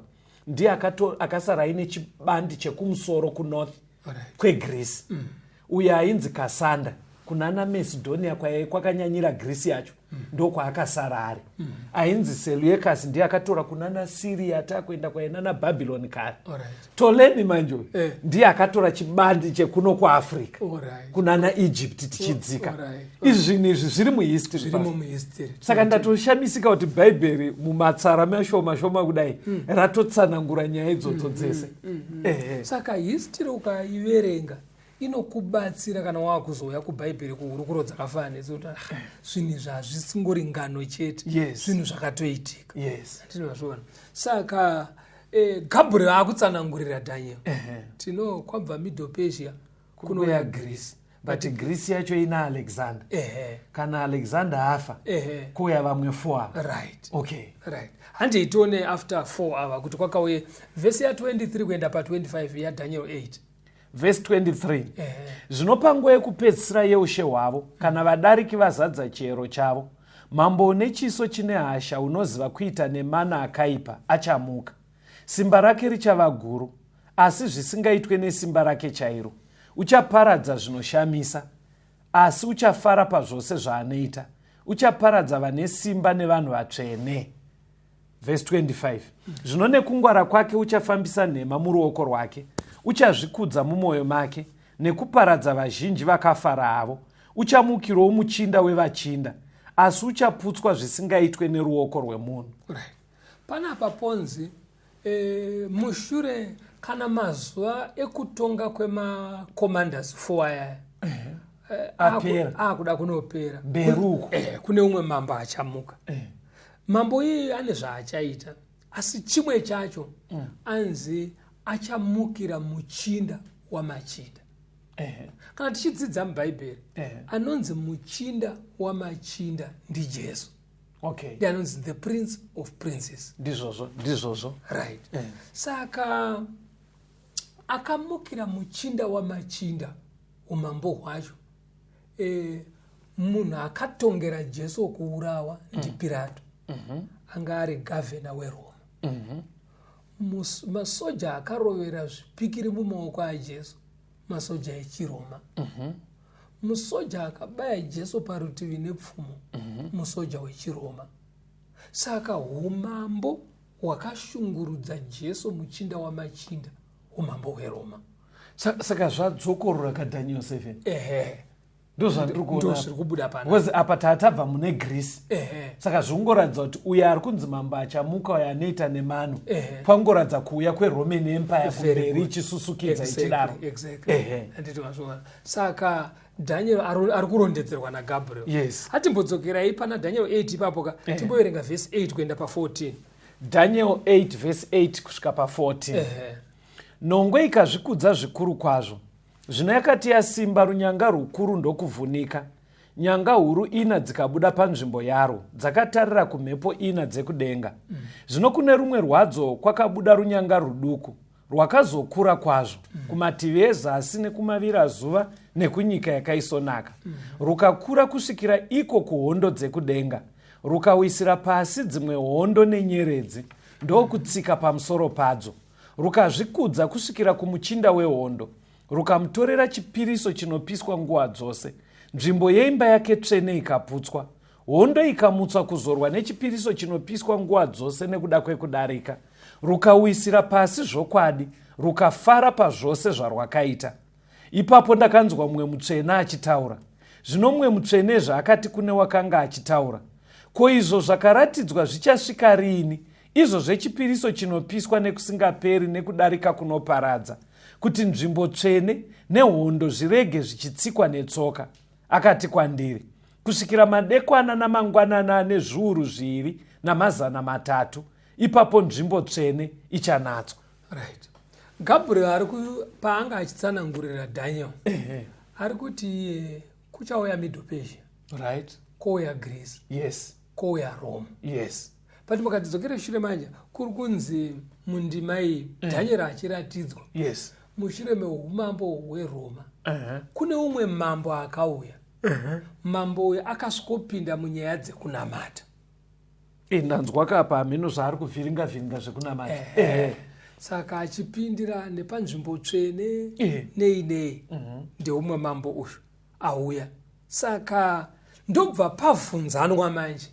Speaker 2: ndiye akasara aine chibandi chekumusoro kunorth right. kwegreece mm. uyo ainzi kasanda kuna namesidonia kwaye kwakanyanyira grisi yacho mm. ndokwaakasara ari mm. ainzi seluyekasi ndiye akatora kuna nasiria atakuenda kwaye nanabhabhiloni kare right. tolemi manje uyu eh. ndiye akatora chibandi chekuno kuafrica right. kuna naegypt tichidzika right. right. izvi zvinhu izvi zviri muhistory saka ndatoshamisika kuti bhaibheri mumatsara mashoma shoma kudai mm. ratotsanangura nyaya idzodzo mm, mm, dzese mm, mm, mm. Eh, eh. saka
Speaker 1: history ukaiverenga inokubatsira kana waakuzouya kuBhaibheri kuhurukuro dzakafanana nedzi kuti ah, zvinhu izvi hazvisingori ngano chete Yes. zvinhu zvakatoitika yes tinozviona saka eh, gabriel akutsanangurira daniel Ehe. tino kwabva middle persia kunouya kunouya greece but greece
Speaker 2: yacho ina alexander ehe kana alexander afa ehe kuuya vamwe four ava right okay right
Speaker 1: handei tione after 4 ava kuti kwakauye vhesi ya 23 kuenda pa 25 yadaniel 8 vhesi 23
Speaker 2: zvino panguva yekupedzisira yeushe hwavo kana vadariki vazadza chiyero chavo mambo une chiso chine hasha unoziva kuita nemana akaipa achamuka simba rake richava guru asi zvisingaitwe nesimba rake chairo uchaparadza zvinoshamisa asi uchafara pazvose zvaanoita uchaparadza vane simba nevanhu vatsvene vhesi 25 zvino nekungwara kwake uchafambisa nhema muruoko rwake uchazvikudza mumwoyo make nekuparadza vazhinji vakafara havo uchamukirowo muchinda wevachinda asi uchaputswa zvisingaitwe neruoko rwemunhu right. panapa
Speaker 1: ponzi e, mushure kana mazuva ekutonga kwemacommanders four ayaya eh, akuda kunopera mberi uko eh,
Speaker 2: kune umwe mambo
Speaker 1: achamuka eh. mambo iyeye ane zvaachaita asi chimwe chacho mm. anzi achamukira muchinda wamachinda eh. kana tichidzidza mubhaibheri eh. anonzi muchinda wamachinda ndijesu okay. ndi
Speaker 2: anonzi the prince
Speaker 1: of princes ndizvozvo ndizvozvo
Speaker 2: right eh.
Speaker 1: saka akamukira muchinda wamachinda umambo hwacho eh, munhu akatongera jesu wokuurawa mm. ndipirato mhm. anga ari gavhena weroma mhm. masoja akarovera zvipikiri mumaoko ajesu masoja echiroma mhm. musoja akabaya jesu parutivi nepfumo musoja wechiroma saka umambo hwakashungurudza jesu muchinda wamachinda umambo hweroma saka
Speaker 2: zvadzokorora kadaniel 7 ehe ndozvandiri kubuda
Speaker 1: panbecause apa tatabva mune
Speaker 2: greece saka zvikungoratidza kuti uyo ari kunzi mambo achamuka uyo anoita nemano pangoratidza kuuya kweroman empire kumberi ichisusukidza ichidaro
Speaker 1: saka daniel ari kurondedzerwa nagabriel yes atimbodzokerai
Speaker 2: pana
Speaker 1: daniel 8 ipapo ka eh. timboverenga vhesi 8 kuenda pa 14 Daniel 8
Speaker 2: vhesi 8 kusvika pa14 Nhongwe ikazvikudza zvikuru kwazvo, zvino yakati yasimba runyanga rwukuru ndokuvhunika, nyanga huru ina dzikabuda panzvimbo yarwo, dzakatarira kumhepo ina dzekudenga. Zvino kune rumwe rwadzo kwakabuda runyanga rwuduku, rwakazokura kwazvo mm. kumativi ezasi nekumavirazuva nekunyika yakaisonaka mm. rukakura kusvikira iko kuhondo dzekudenga rukawisira pasi dzimwe hondo nenyeredzi ndokutsika pamusoro padzo rukazvikudza kusvikira kumuchinda wehondo rukamutorera chipiriso chinopiswa nguva dzose nzvimbo yeimba yake tsvene ikaputswa hondo ikamutswa kuzorwa nechipiriso chinopiswa nguva dzose nekuda kwekudarika rukawisira pasi zvokwadi rukafara pazvose zvarwakaita ipapo ndakanzwa mumwe mutsvene achitaura zvino mumwe mutsvene zvaakati kune wakanga achitaura ko izvo zvakaratidzwa zvichasvika riini izvo zvechipiriso chinopiswa nekusingaperi nekudarika kunoparadza kuti nzvimbo tsvene nehondo zvirege zvichitsikwa netsoka akati kwandiri kusvikira madekwana namangwanana ane zviuru zviviri namazana matatu ipapo nzvimbo tsvene ichanatswa right
Speaker 1: gabriel ari paanga achitsanangurira daniel ari kuti eh, kuchauya middle persia right kouya
Speaker 2: greece
Speaker 1: yes kouya
Speaker 2: rome
Speaker 1: yes but
Speaker 2: mukatidzokere
Speaker 1: shure manje kuri kunzi mundima iyi eh. daniel achiratidzwa yes mushure
Speaker 2: meumambo
Speaker 1: hweroma uh -huh. kune umwe mambo akauya uh -huh. mambo uyo akasvikopinda munyaya dzekunamata e,
Speaker 2: ndanzwa kapa hameno zvaari kuvhiringa vhiringa zvekunamata uh eh, -huh. Eh.
Speaker 1: saka achipindira nepanzvimbo tsvene uh -huh. nei nei uh mhm. -huh. ndeumwe mambo uyu auya saka ndobva pavhunzanwa manje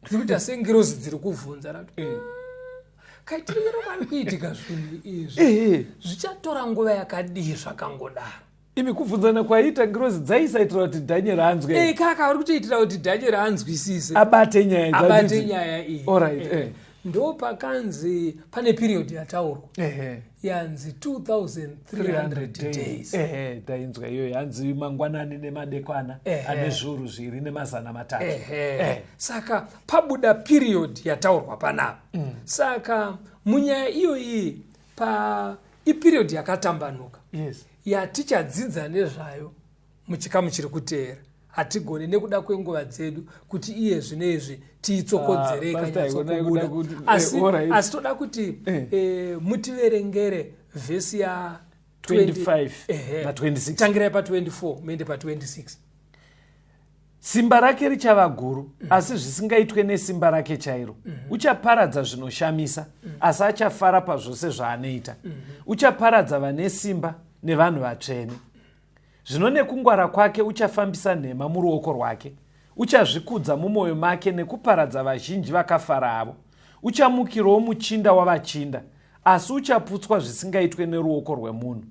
Speaker 1: dzikuita sengirozi dziri kuvhunza ra eh. kaitiriro kari kuitika zvinhu izvi eh, eh. zvichatora nguva yakadii zvakangodaro imi kubvunzana
Speaker 2: kwaiita ngirozi dzaisaitira kuti dhanyeri anzwe hey, eh, kaka uri kutoitira kuti
Speaker 1: dhanyeri anzwisise abate nyaya
Speaker 2: abate nyaya iyi right, eh.
Speaker 1: eh. ndo pakanzi pane period yataurwa eh. yanzi 2300 days eh, tainzwa iyoyo
Speaker 2: yanzi mangwanani nemadekwana eh. ane zviuru zviri nemazana matatu eh. Eh. saka
Speaker 1: pabuda period yataurwa panapa mm. saka munyaya iyoyi pa iperiod yakatambanuka yes
Speaker 2: yatichadzidza
Speaker 1: nezvayo muchikamu chiri kuteera hatigone nekuda kwenguva dzedu kuti iye zvino izvi tiitsokodzere ah, ikanyatsokubuda eh, asi toda kuti eh. Eh, mutiverengere vhesi ya
Speaker 2: 25 tangirai pa 24
Speaker 1: muende pa
Speaker 2: 26 Simba rake richava guru, mm. asi zvisingaitwe nesimba rake chairo. Mm -hmm. Uchaparadza zvinoshamisa, mm. asi achafara pazvose zvaanoita. Mm -hmm. Uchaparadza vane simba nevanhu vatsvene. Zvino nekungwara kwake uchafambisa nhema muruoko rwake. Uchazvikudza mumwoyo make nekuparadza vazhinji vakafara avo. Uchamukirawo muchinda wavachinda, asi uchaputswa zvisingaitwe neruoko rwemunhu.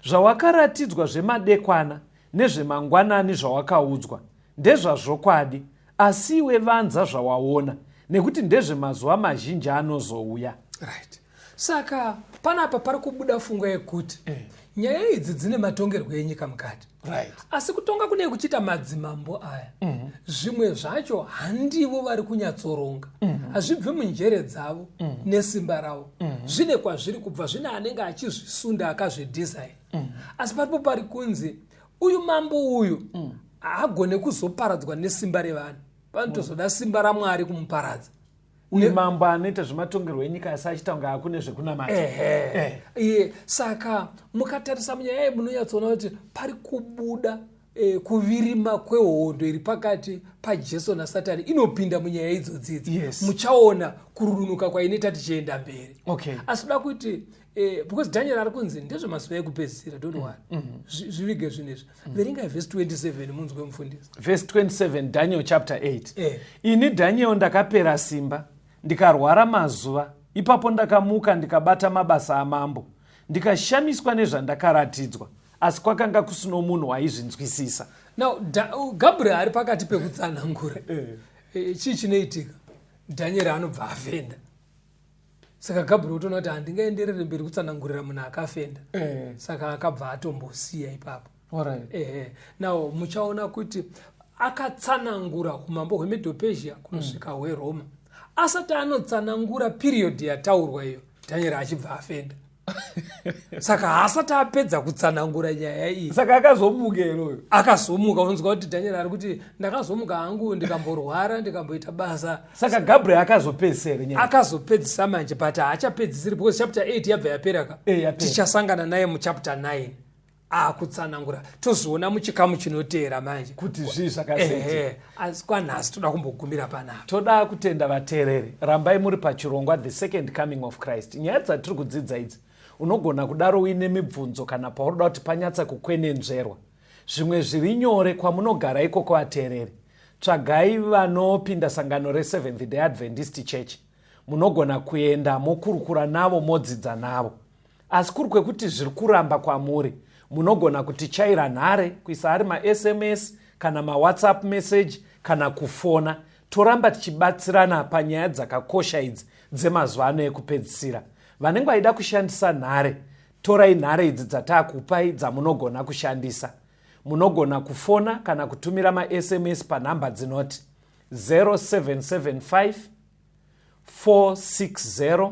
Speaker 2: Zvawakaratidzwa zvemadekwana, nezvemangwanani zvawakaudzwa ndezvazvokwadi asi iwe vanza zvawaona nekuti ndezvemazuva mazhinji anozouya right
Speaker 1: saka panapa pari kubuda funga yekuti eh. nyaya idzi dzine matongerwo enyika mukati right. asi kutonga
Speaker 2: kune
Speaker 1: kuchiita madzimambo aya mm -hmm. zvimwe zvacho handivo vari kunyatsoronga mhm. hazvibvi mm -hmm. munjere dzavo mm -hmm. nesimba ravo mm -hmm. zvine kwazviri kubva zvine anenge achizvisunda akazvidesign mm. asi paripo pari kunzi uyu mambo uyu mm. haagone kuzoparadzwa nesimba revanhu vanotozoda simba ramwari kumuparadza uyu mambo
Speaker 2: anoita zvematongerwo enyika asi achiita kunge akune zvekunamata eh. iye
Speaker 1: saka mukatarisa munyaya iyi munonyatsoona kuti pari kubuda e, kuvirima kwehondo iri pakati pajesu nasatani inopinda munyaya idzo dzidzi yes. muchaona kururunuka kwainoita tichienda mberi okay. asi kuda kuti e, because daniel ari kunzi ndezvemazuva ekupedzisira don't wori mm -hmm. zvivige zvine izvi mm -hmm. verengai vhesi 27 munzwe mufundisi vhesi 27
Speaker 2: daniel chapter 8 eh. ini daniel ndakapera simba ndikarwara mazuva ipapo ndakamuka ndikabata mabasa amambo ndikashamiswa nezvandakaratidzwa asi kwakanga kusino munhu aizvinzwisisa now
Speaker 1: gabriel ari pakati pekutsanangura eh. eh, chii chinoitika dhanyeri anobva afenda saka gabriel utoona kuti handingaenderere mberi kutsanangurira munhu akafenda eh. saka akabva atombosiya ipapo ehe now muchaona kuti akatsanangura umambo hwemedopesia kunosvika hmm. hweroma asati anotsanangura piriyodhi yataurwa iyo dhanyeri achibva afenda saka haasati apedza kutsanangura nyaya iyi saka akazomuka
Speaker 2: iroyo akazomuka unonzwa
Speaker 1: kuti daniel ari kuti ndakazomuka hangu ndikamborwara ndikamboita basa saka gabriel
Speaker 2: akazopedzisere nyaya akazopedzisa manje
Speaker 1: but haachapedzisiri because chapter 8 yabva yaperaka eh, tichasangana naye muchapter 9 akutsanangura tozviona muchikamu chinoteera manje kuti zvii zvakasei
Speaker 2: asi kwanhasi
Speaker 1: toda kumbogumira panapa toda kutenda
Speaker 2: vateereri rambai muri pachirongwa the second coming of christ nyaya dzatiri kudzidza idzi unogona kudaro uine mibvunzo kana paunoda kuti panyatsa kukwenenzverwa zvimwe zviri nyore kwamunogara ikoko vateereri tsvagai vanopinda sangano reseventh day adventist church munogona kuenda mokurukura navo modzidza navo asi kuri kwekuti zviri kuramba kwamuri munogona kutichaira nhare kuisa ari masms kana mawhatsapp message kana kufona toramba tichibatsirana panyaya dzakakosha idzi dzemazuva ano ekupedzisira vanenge vaida kushandisa nhare torai nhare idzi dzataakupai dzamunogona kushandisa munogona kufona kana kutumira masms panhamba dzinoti 0775 460